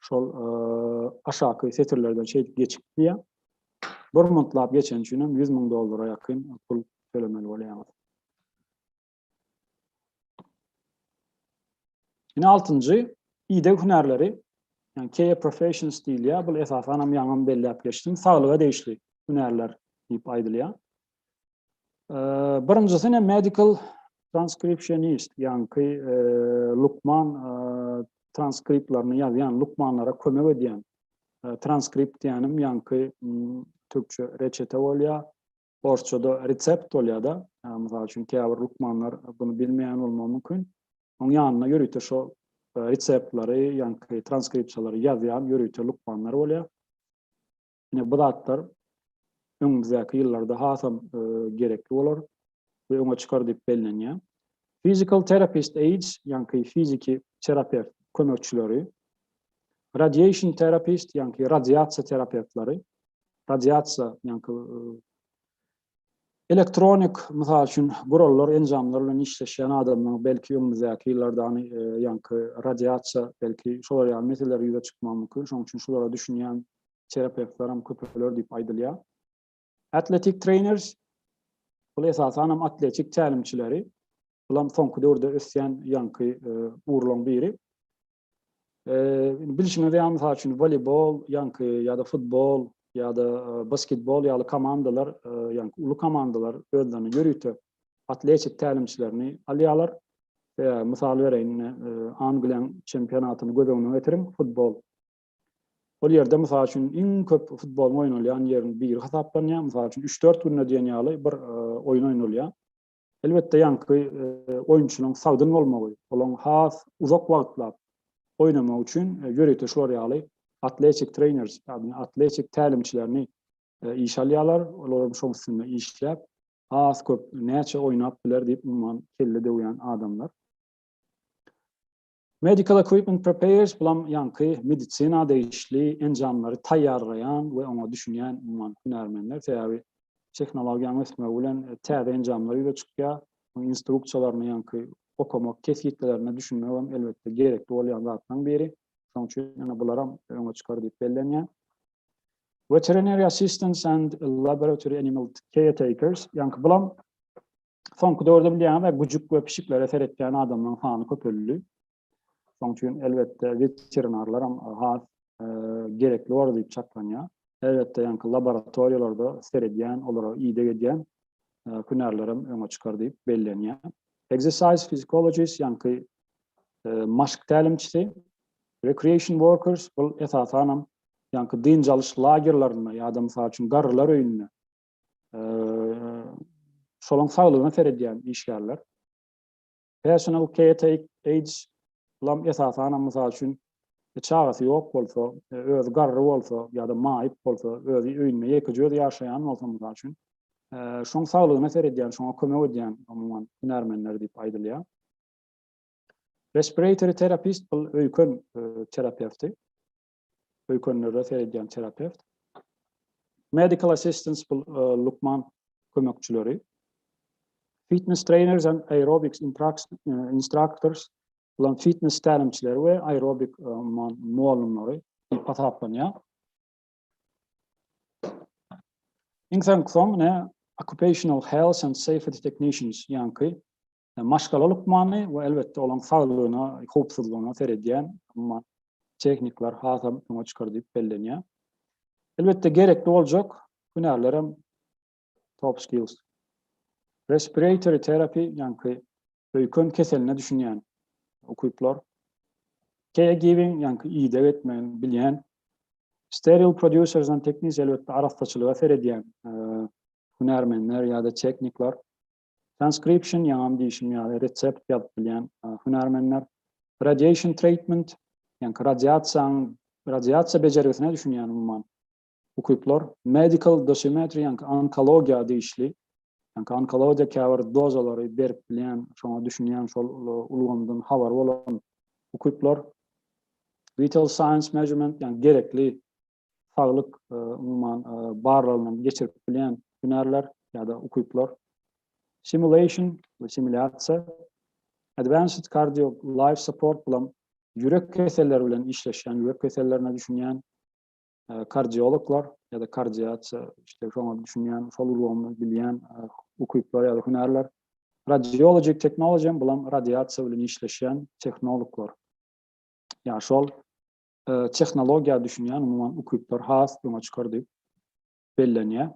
Speaker 1: şol aşaky setirlerden şeýdip geçip gidýär. Bir muntlap geçeni üçin hem ýüz müň dollara ýakyn pul tölemeli bolýaňyz. Ine altynjy ideg hünärleri, yani care professions diýilýär. Bu esasan hem ýaňam belläp geçdim. Saglyga degişli hünärler diýip aýdylýar. Birinjisi ne medical transcriptionist, yani ki e, lukman e, transkriptlerini ýazýan, lukmanlara kömek edýän. E, transkript diýenim, yani ki türkçe reçete bolýar. Orsçada resept bolýar-da, mysal üçin, käbir lukmanlar bunu bilmeýän bolmagy mümkin. Onuň ýanyna ýörite şo reseptleri, ýaňky transkripsiýalary ýazýan ýörite lukmanlar bolýar. Ine, bu zatlar öňümizdäki ýyllarda hasam gerekli bolar we öňe çykar diýip bellenýär. Physical therapist aids, ýaňky fiziki terapewt kömekçileri, radiation therapist, ýaňky radiasiýa terapewtleri, radiasiýa, ýaňky elektronik, mysal üçin, gurallar, enjamlar bilen işleşýän adamlaryň belki öňümizdäki ýyllarda ýaňky radiasiýa, belki şolar ýaly meseleler ýüze çykmagy mümkin. Şonuň üçin şulara düşünýän terapewtler hem köpeler diýip aýdylýar. Athletic trainers, bul esasan hem atletik tälimçileri, bulam soňky döwürde ösýän ýaňky ugurlaryň biri. Eee, bilşiňiz ýaly, mysal üçin, woleýbol, ýaňky ýa-da futbol ýa-da basketbol ýaly komandalar, ýaňky uly komandalar özlerine ýörite atletik tälimçilerini alýarlar. Eee, mysal bereýin, ine, Angliýanyň çempionatyny göz öňüne getiriň, futbol. Ol ýerde, mysal üçin, iň köp futboluň oýnalýan ýeriniň biri hasaplanýar. Mysal üçin, üç-dört günde diýen ýaly bir oýun oýnalýar. Elbetde ýaňky oýunçynyň sagdyn bolmagy, olaň has uzak wagtlap oýnamagy üçin ýörite şular ýaly atletik trener, ýagny atletik tälimçilerini işe alýarlar, olar hem şoň üstünde işläp, has köp näçe oýnap biler diýip umuman kelle döwýän adamlar. Medical equipment preparers, bulam ýaňky medisina degişli enjamlary taýýarlaýan we oňa düşünýän umuman hünärmenler, sebäbi tehnologiýanyň ösmegi bilen täze enjamlar ýüze çykýar, onuň instruksiýalaryny ýaňky okamak, kesgitlilerine düşünmek hem elbetde gerekli bolýan zatlaryň biri, şonuň üçin ýene bularam öňe çykar diýip bellenýär. Veterinary assistants and laboratory animal caretakers, ýaňky bulam Soňky döwürde bilýäňiz, güjük we pişiklere seretýän adamlaryň sany köpeldi. Şoň üçin elbetde weterinarlar hem has e, gerekli bor diýip çaklanýar. Elbetde ýaňky laboratoriýalarda seredýän, olara ideg edýän e, hünärler hem öňe çykar diýip bellenýär. Exercise physiologist ýaňky e, maşk tälimçisi, recreation workers bul esasan hem ýaňky dynç alyş lagerlerinde ýa-da mysal üçin garrylar öýünde şolaň saglygyna seredýän işgärler. Personal caretaker age lam esasanam mysal üçin e, çagasy ýok bolsa, e, özi garry bolsa ýa-da maýyp bolsa, özi öýünde ýekeje özi ýaşaýan bolsa mysal üçin, e, şoň saglygyna seredýän, şoňa kömek edýän umuman hünärmenler diýip aýdylýar. Respiratory terapist bul öýken terapewti. öýkenlere seredýän terapewt, medical assistants bul lukman kömekçileri, fitness trainers and aerobics instructors bulan fitness tälimçileri we aerobik mugallymlary diýip hasaplanýar. Iň soňky soň ne occupational health and safety technicians ýaňky maşgala lukmany we elbetde olaň saglygyna, howpsuzlygyna seredýän umman tehnikler hasam öňe çykar diýip bellenýär. Elbetde gerekli boljak hünärlerem top skills. Respiratory terapi, ýaňky öýken keseline düşünýän ukyplar, caregiving, ýaňky ideg etmegini bilýän, steril producers and technics, elbetde arassaçylyga seredýän hünärmenler ýa-da tehnikler, Transcription, ýaňam diýşim ýaly, resept ýazyp bilýän hünärmenler. Radiation treatment, ýaňky radiasiýaň, radiasiýa bejergisine düşünýän umuman ukyplar. Medical dosimetry, ýaňky onkologiýa degişli, ýaňky onkologiýa käbir dozalary berip bilýän, şoňa düşünýän, şol ulgamdan habary bolan ukyplar. Vital signs measurement, ýaňky gerekli saglyk umuman barlagyndan geçirip bilýän hünärler ýa-da ukyplar, simulation we simulýasiýa, advanced cardio life support bilen ýürek keselleri bilen işleşýän, ýürek kesellerine düşünýän kardiologlar ýa-da kardiasiýa işte şoňa düşünýän, şol ulgamy bilýän ukyplar ýa-da hünärler, radiology technology bilen radiasiýa bilen işleşýän tehnologlar. Ýa şol tehnologiýa düşünýän umuman ukyplar has öňe çykar diýip bellenýär.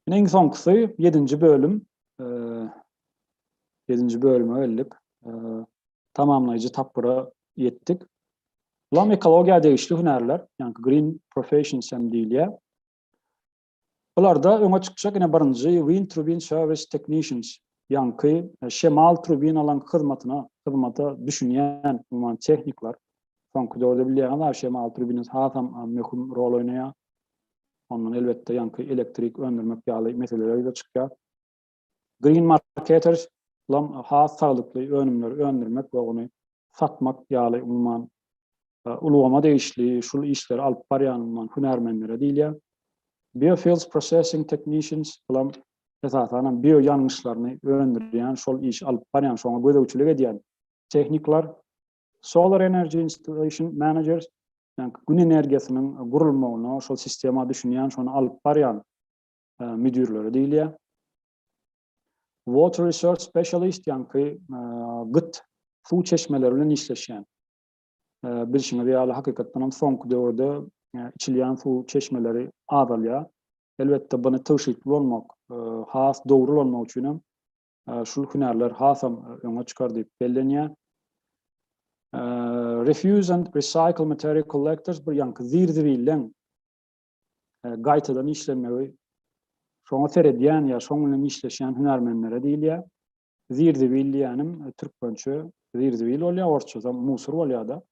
Speaker 1: Ine iň soňkusy 7-nji bölüm. 7-nji bölüme geldik. Tamamlaýjy tapgyra ýetdik. Bulam ekologiýa degişli hünärler, ýagny green professions hem diýilýär. Bularda öňe çykjak ine birinji Wind Turbine Service Technicians, ýaňky, şemal turbinalaryň hyzmatyna, hyzmata düşünýän, umuman, tehnikler. Soňky döwürde bilýäňiz-ä, şemal turbinasy hasam möhüm rol oýnaýar. Ondan, elbetde, ýaňky elektrik öndürmek ýaly meseleler ýüze çykýar. Green Marketers lam has saglykly önümleri öndürmek we ony satmak ýaly umuman ulgama degişli şul işleri alyp barýan umuman hünärmenlere diýilýär. Biofuels Processing Technicians lam esasanam bio ýangyçlaryny öndürýän şol işi alyp barýan şoňa gözegçilik edýän tehnikler. Solar Energy Installation Managers ýa-ni gün energiýasynyň gurulmagyna şol sistema düşünýän şony alyp barýan müdirleri diýilýär. Water Research Specialist ýaňky gyt suw çeşmeleri bilen işleşýän. Bilşiňiz ýaly hakykatdan hem soňky döwürde içilýän suw çeşmeleri azalýar. Elbetde bunu tygşytly bolmak, has dogry bolmak üçin hem şul hünärler hasam öňe çykar diýip bellenýär. Refuse and Recycle Material Collectors bir ýaňky zir-zibilden e, gaýtadan işlenmegi şoňa seredýän ýa şoň bilen işleşýän hünärmenlere diýilýär. Zirzibil diýýänim e, türkmençe zirzibil bolýar, orsça musur bolýar-da.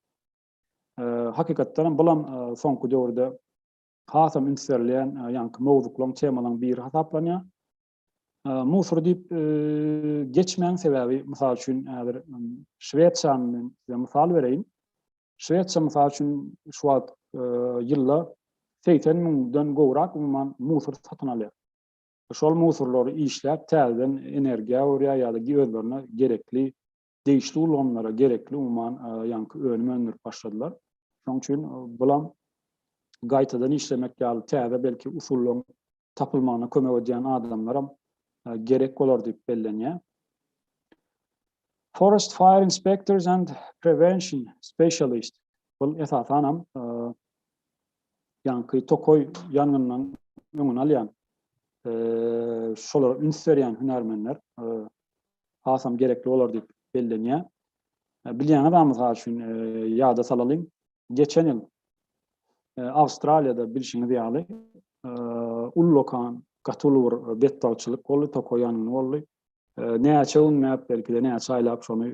Speaker 1: E, hakykatdan hem bulam e, soňky döwürde hasam üns berilýän ýaňky mowzuklaryň, temalaryň biri hasaplanýar. Musur diýip geçmäň sebäbi mysal üçin häzir Şwesiýany men size mysal bereýin. Şwesiýa mysal üçin şu wagt ýylda 80 müňden gowrak umuman musur satyn alýar. Şol musurlary işläp täzeden energiýa öwürýär ýa-da özlerine gerekli degişli ulgamlara gerekli umuman ýaňky önüm öndürip başladylar. Şonuň üçin bulam gaýtadan işlemek ýaly täze belki usullaryň tapylmagyna kömek edýän adamlaram gerek bolar diýip bellenýär. Forest Fire Inspectors and Prevention Specialist. Bul esasan hem e, ýanky tokoý ýangyndan öňüni alýan e, şolara üns berýän hünärmenler e, hasam gerekli bolar diýip bellenýär. Bilýäňiz bar mysal üçin ýada salalyň. Geçen ýyl Awstraliýada bilşiňiz ýaly ullakan gaty uly bir betbagtçylyk boldy, tokio ýangyn boldy. Näçe günläp, belki-de näçe aýlap şony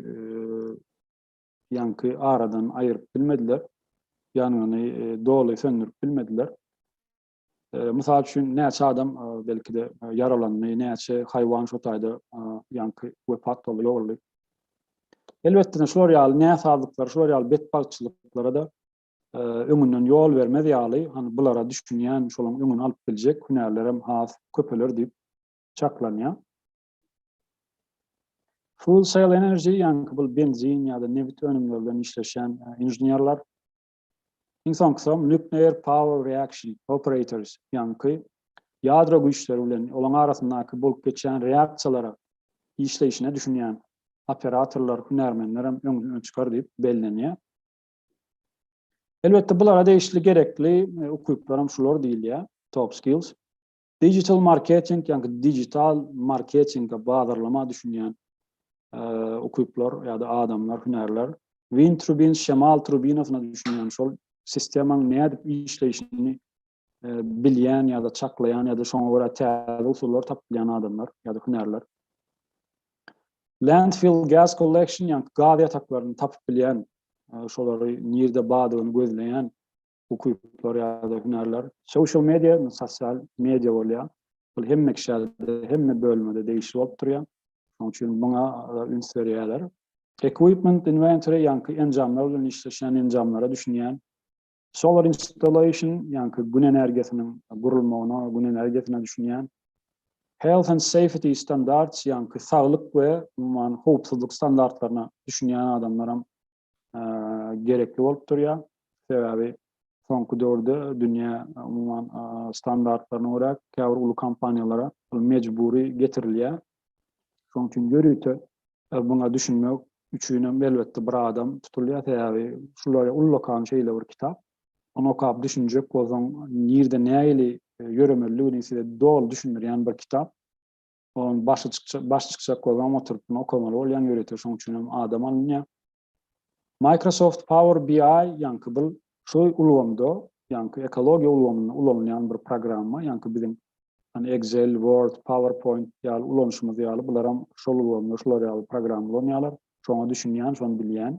Speaker 1: ýaňky aradan aýyryp bilmediler. Ýangyny doly söndürip bilmediler. Mysal üçin, näçe adam belki-de ýaralandy, näçe haýwan şo taýda ýaňky wepat boldy, ýogaldy. Elbetde-de, şular ýaly näsazlyklara, şular ýaly betbagtçylyklara-da öňünden ýol bermez ýaly, hany bulara düşünýän, şolaryň öňüni alyp biljek hünärlerem has köpeler diýip çaklanýar. Full Sail Energy, ýaňky bu benzin ýa-da nebit önümleri bilen işleşýän inženerler, Iň soňkusam Nuclear Power Reaction Operators, ýaňky ýadro güýçleri bilen olaň arasyndaky bolup geçýän reaksiýalara işleýşine düşünýän operatorlar, hünärmenler hem öňden çykar diýip bellenýär. Elbetde bulara degişli gerekli ukyplar hem şular diýilýär, top skills. Digital marketing, ýa-da digital marketinge bazarlama düşünýän ukyplar ýa-da adamlar, hünärler, win trubin, şemal trubinasyna düşünýän, şol sistemaň nädip işleýşini bilýän ýa-da çaklaýan ýa-da şoňa görä täze usullar tapyp bilýän adamlar ýa-da hünärler. Landfill gas collection, ýa-da gaz ýataklaryny tapyp bilýän, şolary nirde bardygyny gözleýän ukyplar ýa-da hünärler. Social media, sosial media bolýar. Bul hemme kişälerde, hemme bölmede degişli bolup durýar. Şonuň üçin muňa üns berýärler. Equipment inventory, ýaňky enjamlar bilen işleşýän enjamlara düşünýän. Solar installation, ýaňky gün energiýasynyň gurulmagyna, gün energiýasyna düşünýän. Health and safety standards, ýaňky saglyk we umuman howpsuzlyk standartlaryna düşünýän adamlaram gerekli bolup durýar. Sebäbi soňky döwürde dünýä umuman standartlaryna görä käbir uly kompaniýalara mejbury getirilýär. Şonuň üçin ýörite e, buna düşünmek üçin hem elbetde bir adam tutulýar. Sebäbi şular ullakan şeýle bir kitap. Onu okap düşünjek bolsaň, nirde nähili e, ýöremelligini size doly düşündirýän bir kitap. Onuň başy çykjak, baş çykjak program oturyp muny okamaly bolýaň ýörite şoň üçin hem adam alynýar. Microsoft Power BI ýaňky bil şu ulgamda ýaňky ekologiýa ulgamynda ulanylýan bir programma ýaňky biziň hani Excel, Word, PowerPoint ýaly ulanyşymyz ýaly bular hem şol ulgamda şular ýaly programma ulanýarlar. Şoňa düşünýän, şony bilýän.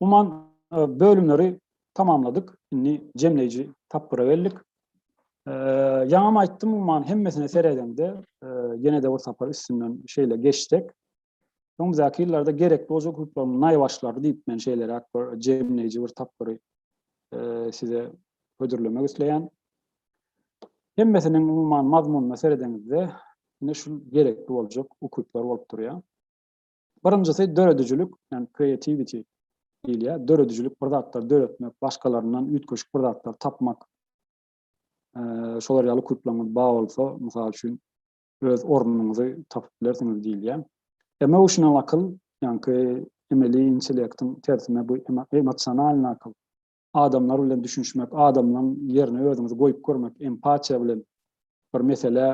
Speaker 1: Umuman bölümleri tamamladyk. Indi jemleýji tapgyra geldik. Ýaňam aýtdym, umuman hemmesine seredeňde, ýene-de bir sapar üstünden şeýle geçsek, öňümüzdäki ýyllarda gerekli boljak hukuklaryň naýbaşylary diýip men şeýleräk bir jemleýji bir tapgyry size hödürlemek isleýän. Hemmesiniň umuman mazmunyna seredeňizde, ine şu gerekli boljak hukuklar bolup durýar. Birinjisi döredijilik, ýagny creativity diýilýär. Döredijilik bir zatlar döretmek, başgalaryndan üýtgeşik bir zatlar tapmak. Şolar ýaly kulplaryňyz bar bolsa, mysal üçin öz ornuňyzy tapyp bilersiňiz diýilýär. Emotional akyl, ýagny emeli intellektiň tersine bu emosionalnyý akyl. adamlar bilen düşünişmek, adamlaryň ýerine özüňizi goýup görmek, empatiýa bilen bir meselä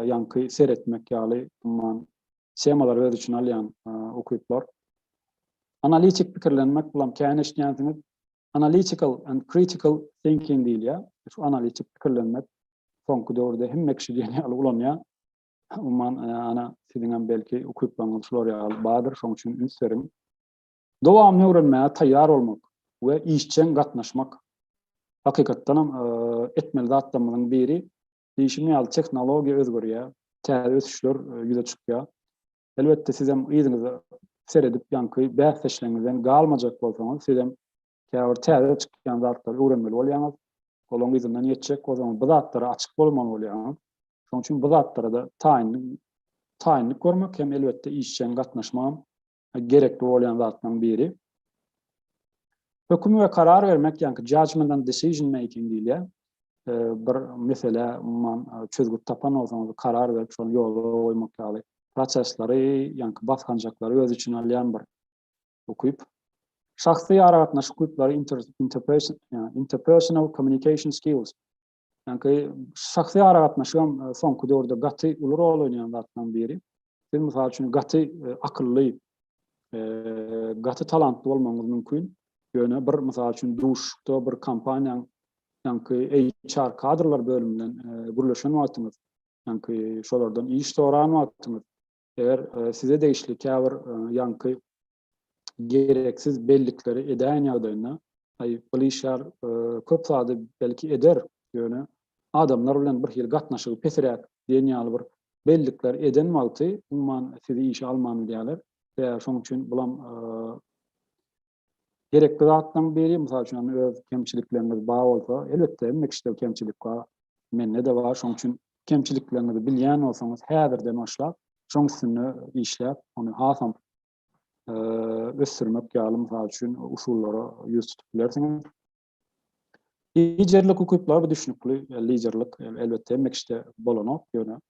Speaker 1: ýaňky seretmek ýaly umman temalar öz üçin alýan ukyplar. Analitik pikirlenmek bilen käni eşitýänsiňiz, analytical and critical thinking diýilýär. Şu analitik pikirlenmek soňky döwürde hemme kişi diýen ýaly ulanýar. Umman ana siziň hem belki ukyplaryňyz şular ýaly bardyr, şoň üçin üns beriň. Dowamyny öwrenmäge taýýar bolmak we işjeň gatnaşmak, hakykatdanam, etmeli zatlarymyzyň biri. Diýşim ýaly, tehnologiýa özgerýär, täze ösüşler ýüze çykýar. Elbetde, sizem yzyňyza seredip, ýaňky bäsdeşleriňizden galmajak bolsaňyz, sizem käbir täze çykýan zatlary öwrenmeli bolýaňyz, olaryň yzyndan ýetjek, o zaman bu zatlara açyk bolmaly bolýaňyz. Şonuň üçin bu zatlara-da taýynlyk görmek hem, elbetde, işjeň gatnaşmagam gerekli bolýan zatlaryň biri. Höküm we karar bermek, ýagny judgment and decision making diýilýär. E, bir meselä umuman e, çözgüt tapan bolsaňyz, karar berip şony ýola goýmak ýaly prosesleri, ýagny basgançaklary öz içine alýan bir ukyp. Şahsy aragatnaşyk ukyplary interpersonal communication skills. Çünki şahsy aragatnaşygam e, soňky döwürde gaty uly rol oýnaýan zatlaryň biri. Siz mysal üçin gaty e, akylly, e, gaty talantly bolmagyňyz mümkin. Ýöne bir mysal üçin duşda bir kompaniýanyň ýanky HR kadrlar bölüminden gürleşen wagtyňyz, ýanky şolardan iş soran wagtyňyz, eger size degişli käbir ýanky gereksiz bellikleri edäýen ýagdaýynda, aý, Glyşar e, köp zady belki eder, ýöne adamlar bilen bir hili gatnaşygy pesiräk diýen ýaly bir bellikler eden wagty, umuman sizi işe alman bilýärler. Sebäbi şoň üçin bulam e, gerekli zatlaryň biri, mysal üçin, öz kemçilikleriňiz bar bolsa, elbetde, hemme kişide kemçilik bar, mende-de bar, şoň üçin kemçilikleriňizi bilýän bolsaňyz, häzirden başlap, şoň üstünde işläp, ony hasam ösdürmek ýaly mysal üçin usullara ýüz tutup bilersiňiz. Liderlik ukyplary düşnükli, liderlik elbetde hemme kişide bolanok, ýöne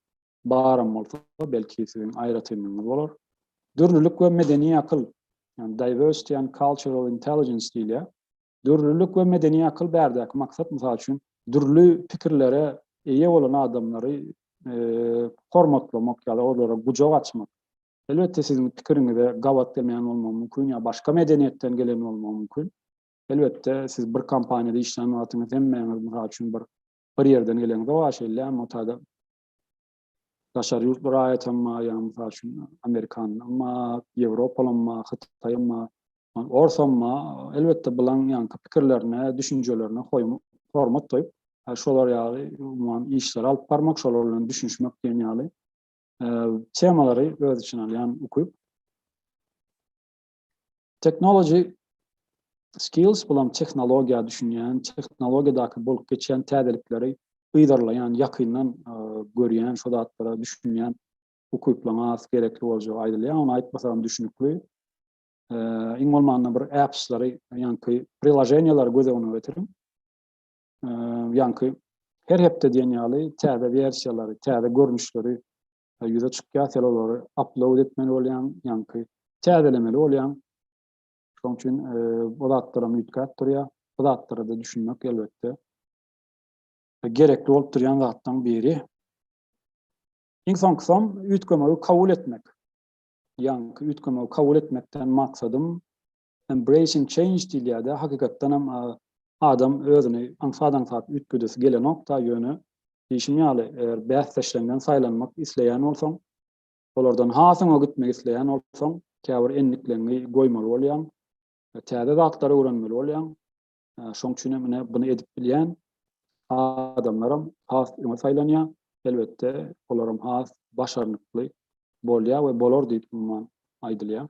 Speaker 1: baram bolsa belki siziň aýratynlygyňyz bolar. Dürlülik we medeni akyl, yani diversity and cultural intelligence diýilýär. Dürlülik we medeni akyl bärdäki maksat mysal üçin dürli pikirlere eýe bolan adamlary hormatlamak ýa-da olara gujak açmak. Elbetde siziň pikiriňize gabat gelmeýän bolmagym mümkin ýa başga medeniýetden gelen bolmagym mümkin. Elbetde siz bir kompaniýada işlän wagtyňyz hemmäňiz mysal üçin bir bir ýerden geleňizok a şeýle motada daşary ýurtly raýatam bar ýa mysal üçin amerikanam bar, ýewropalam bar, hytaýam bar, orsam bar. Elbetde bulaň ýaňky pikirlerine, düşünjelerine hoýum hormat goýup, şolar ýaly umuman işleri alyp barmak, şolar bilen düşünişmek diýen ýaly temalary öz içine alýan ukyp. Technology skills bulam tehnologiýa düşünýän, tehnologiýadaky bolup geçýän täzelikleri gyzarlaýan, ýakyndan görýän, şu zatlara düşünýän ukyplaryň az gerekli boljagy aýdylýar. Ony aýtmasam düşünikli. Iň bolmanda bir apps-lary, ýaňky prilajeniýalary göz öňüne getiriň. ýaňky her hepde diýen ýaly täze wersiýalary, täze görnüşleri ýüze çykýar, sen olary upload etmeli bolýaň, ýaňky täzelemeli bolýaň. Şonuň üçin bu zatlaram üýtgäp durýar. Bu zatlara-da düşünmek elbetde gerekli bolup durýan zatlaryň biri. Iň soňkusam üýtgemegi kabul etmek. Ýaňky üýtgemegi kabul etmekden maksadym Embracing change diýilýärdi, hakykatdanam adam özüni aňsat-aňsat üýtgedesi gelenok-da, ýöne diýşim ýaly, eger bäsdeşleňden saýlanmak isleýän bolsaň, olardan has öňe gitmek isleýän bolsaň, käbir endikleňňi goýmaly bolýaň, täze zatlary öwrenmeli bolýaň. Şoň üçin hem ine buny edip bilýän adamlaram has öňe saýlanýar. Elbetde, olaram has başarnykly bolýar we bolar diýip umuman aýdylýar.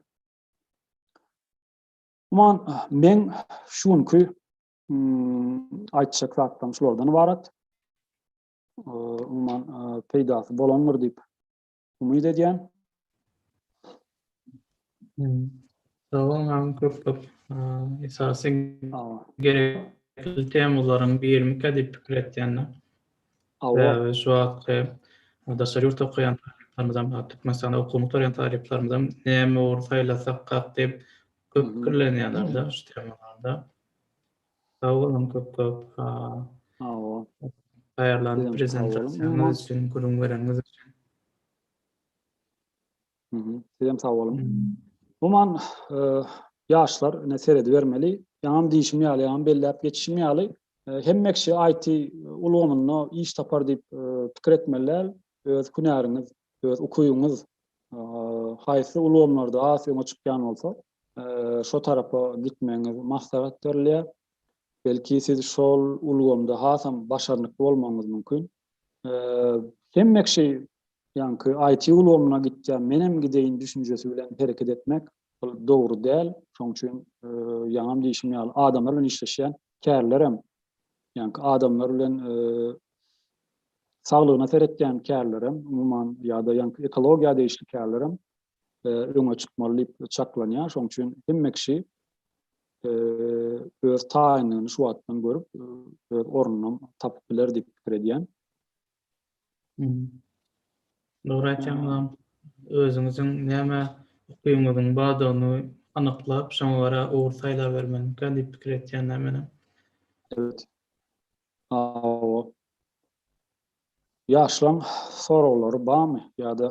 Speaker 1: Umuman, meň şu günki aýtjak zatlarym şulardan ybarat. Umuman, peýdasy bolandyr diýip umyt edýän.
Speaker 2: Sowal nam köp köp. Esasy gerek temalaryň birimi kadip pikir etýänler. Sebäbi şu wagtky daşary ýurtda okaýan talyplarymyzam, Türkmenistanda okuwyny gutarýan talyplarymyzam näme ugur saýlasakak diýip köp pikirlenýärler-de şu tema barada. Sag boluň köp-köp taýýarlan prezentasiýaňyz üçin, gürrüň bereniňiz üçin.
Speaker 1: Sizem sag boluň. Umuman ýaşlar ine seredibermeli. Ýaňam diýşim ýaly, ýaňam belläp geçişim ýaly, hemme kişi IT ulgamynda iş tapar diýip pikir etmeli däl. Öz hünäriňiz, öz ukybyňyz haýsy ulgamlarda has öňe çykýan bolsa, şo tarapa gitmegiňizi maslahat berilýär. Belki siz şol ulgamda hasam başarnykly bolmagyňyz mümkin. Hemme kişi ýaňky IT ulgamyna gitýän, menem gideýin düşünjesi bilen hereket etmek ol dogry däl. Şoň üçin ýaňam diýşim ýaly adamlar bilen işleşýän kärlerem, ýaňky adamlar bilen saglygyna seretýän kärlerem, umuman ýa-da ýaňky ekologiýa degişli kärlerem öňe çykmaly diýip çaklanýar. Şoň üçin hemme kişi öz taýynlygyny şu wagtdan görüp, öz ornuny tapyp biler diýip pikir edýän.
Speaker 2: Dogry aýtýaňyzam. Özüňiziň näme ukyňyzyň bardygyny anyklap, şoňa görä ugur saýlabermelikä diýip pikir etýän-dä menem. Evet.
Speaker 1: Hawa. Ýaşlaň soraglary barmy ýa-da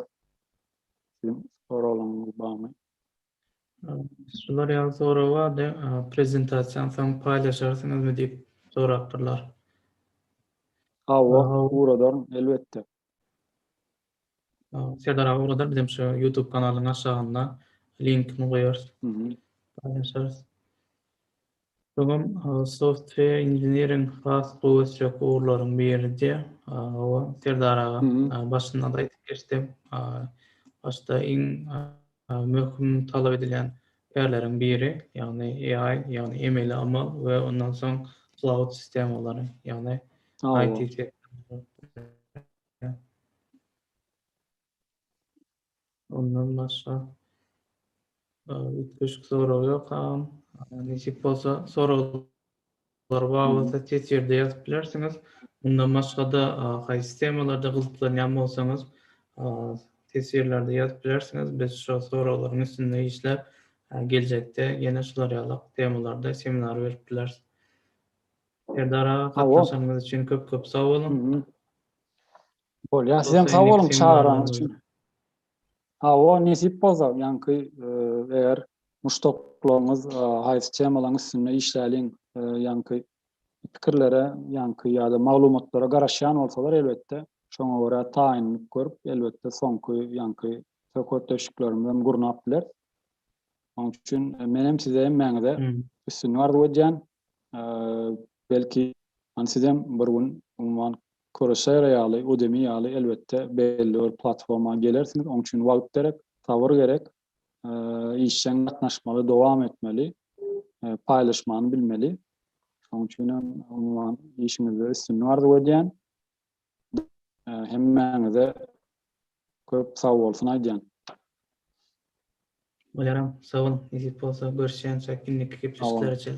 Speaker 1: siziň soraglaryňyz barmy?
Speaker 2: Şular ýaly sorag bardy, prezentasiýany soň paýlaşarsyňyzmy diýip sorapdyrlar. Hawa,
Speaker 1: ugradar elbetde.
Speaker 2: Serdar aga ugradar bizem şu YouTube kanalynyň aşagynda linkini goýarys. Paýlaşarys. Öňem software engineering has gowy ösjek ugurlaryň biridi. Hawa Serdar aga başynda-da aýdyp geçdim. Başda iň Möhüm talap edilýän pärleriň biri, ýagny AI, ýagny emeli amal we ondan soň cloud sistemalary, ýagny IT sektory. Ondan başga üýtgeşik sorag ýok agam. Nesip bolsa soraglar Olar bar bolsa ses ýerde ýazyp bilersiňiz. Mundan başga-da haýsy temalarda gyzyklanýan bolsaňyz ses ýerlerde ýazyp bilersiňiz. Biz şo soraglaryň üstünde işläp geljekde ýene şular ýaly temalarda seminar berip bileris. Serdar aga gatnaşanyňyz üçin köp köp sag boluň.
Speaker 1: Bolýar sizem sag boluň çagyranyňyz üçin. Hawa, nesip bolsa, ýaňky eger muşdaklaryňyz haýsy temalaryň üstünde işläliň ýaňky pikirlere ýaňky ýa-da maglumatlara garaşýan bolsalar elbetde şoňa görä taýynlyk görüp elbetde soňky ýaňky söhbetdeşliklerimizi hem gurnap bileris. Onuň üçin menem size hemmäňize üstünlik arzuw edýän. belki hani sizem bir gün umuman Coursera ýaly, Udemy ýaly elbetde belli bir platforma gelersiňiz. Oň üçin wagt gerek, sabyr gerek. Işjeň gatnaşmaly, dowam etmeli, paýlaşmany bilmeli. Şoň üçin hem umuman işiňizde üstünlik arzuw edýän. Hemmäňize köp sag bolsun aýdýan. Bolýaram, sag boluň. Nesip
Speaker 2: bolsa görüşýänçäk indiki gepleşikler üçin.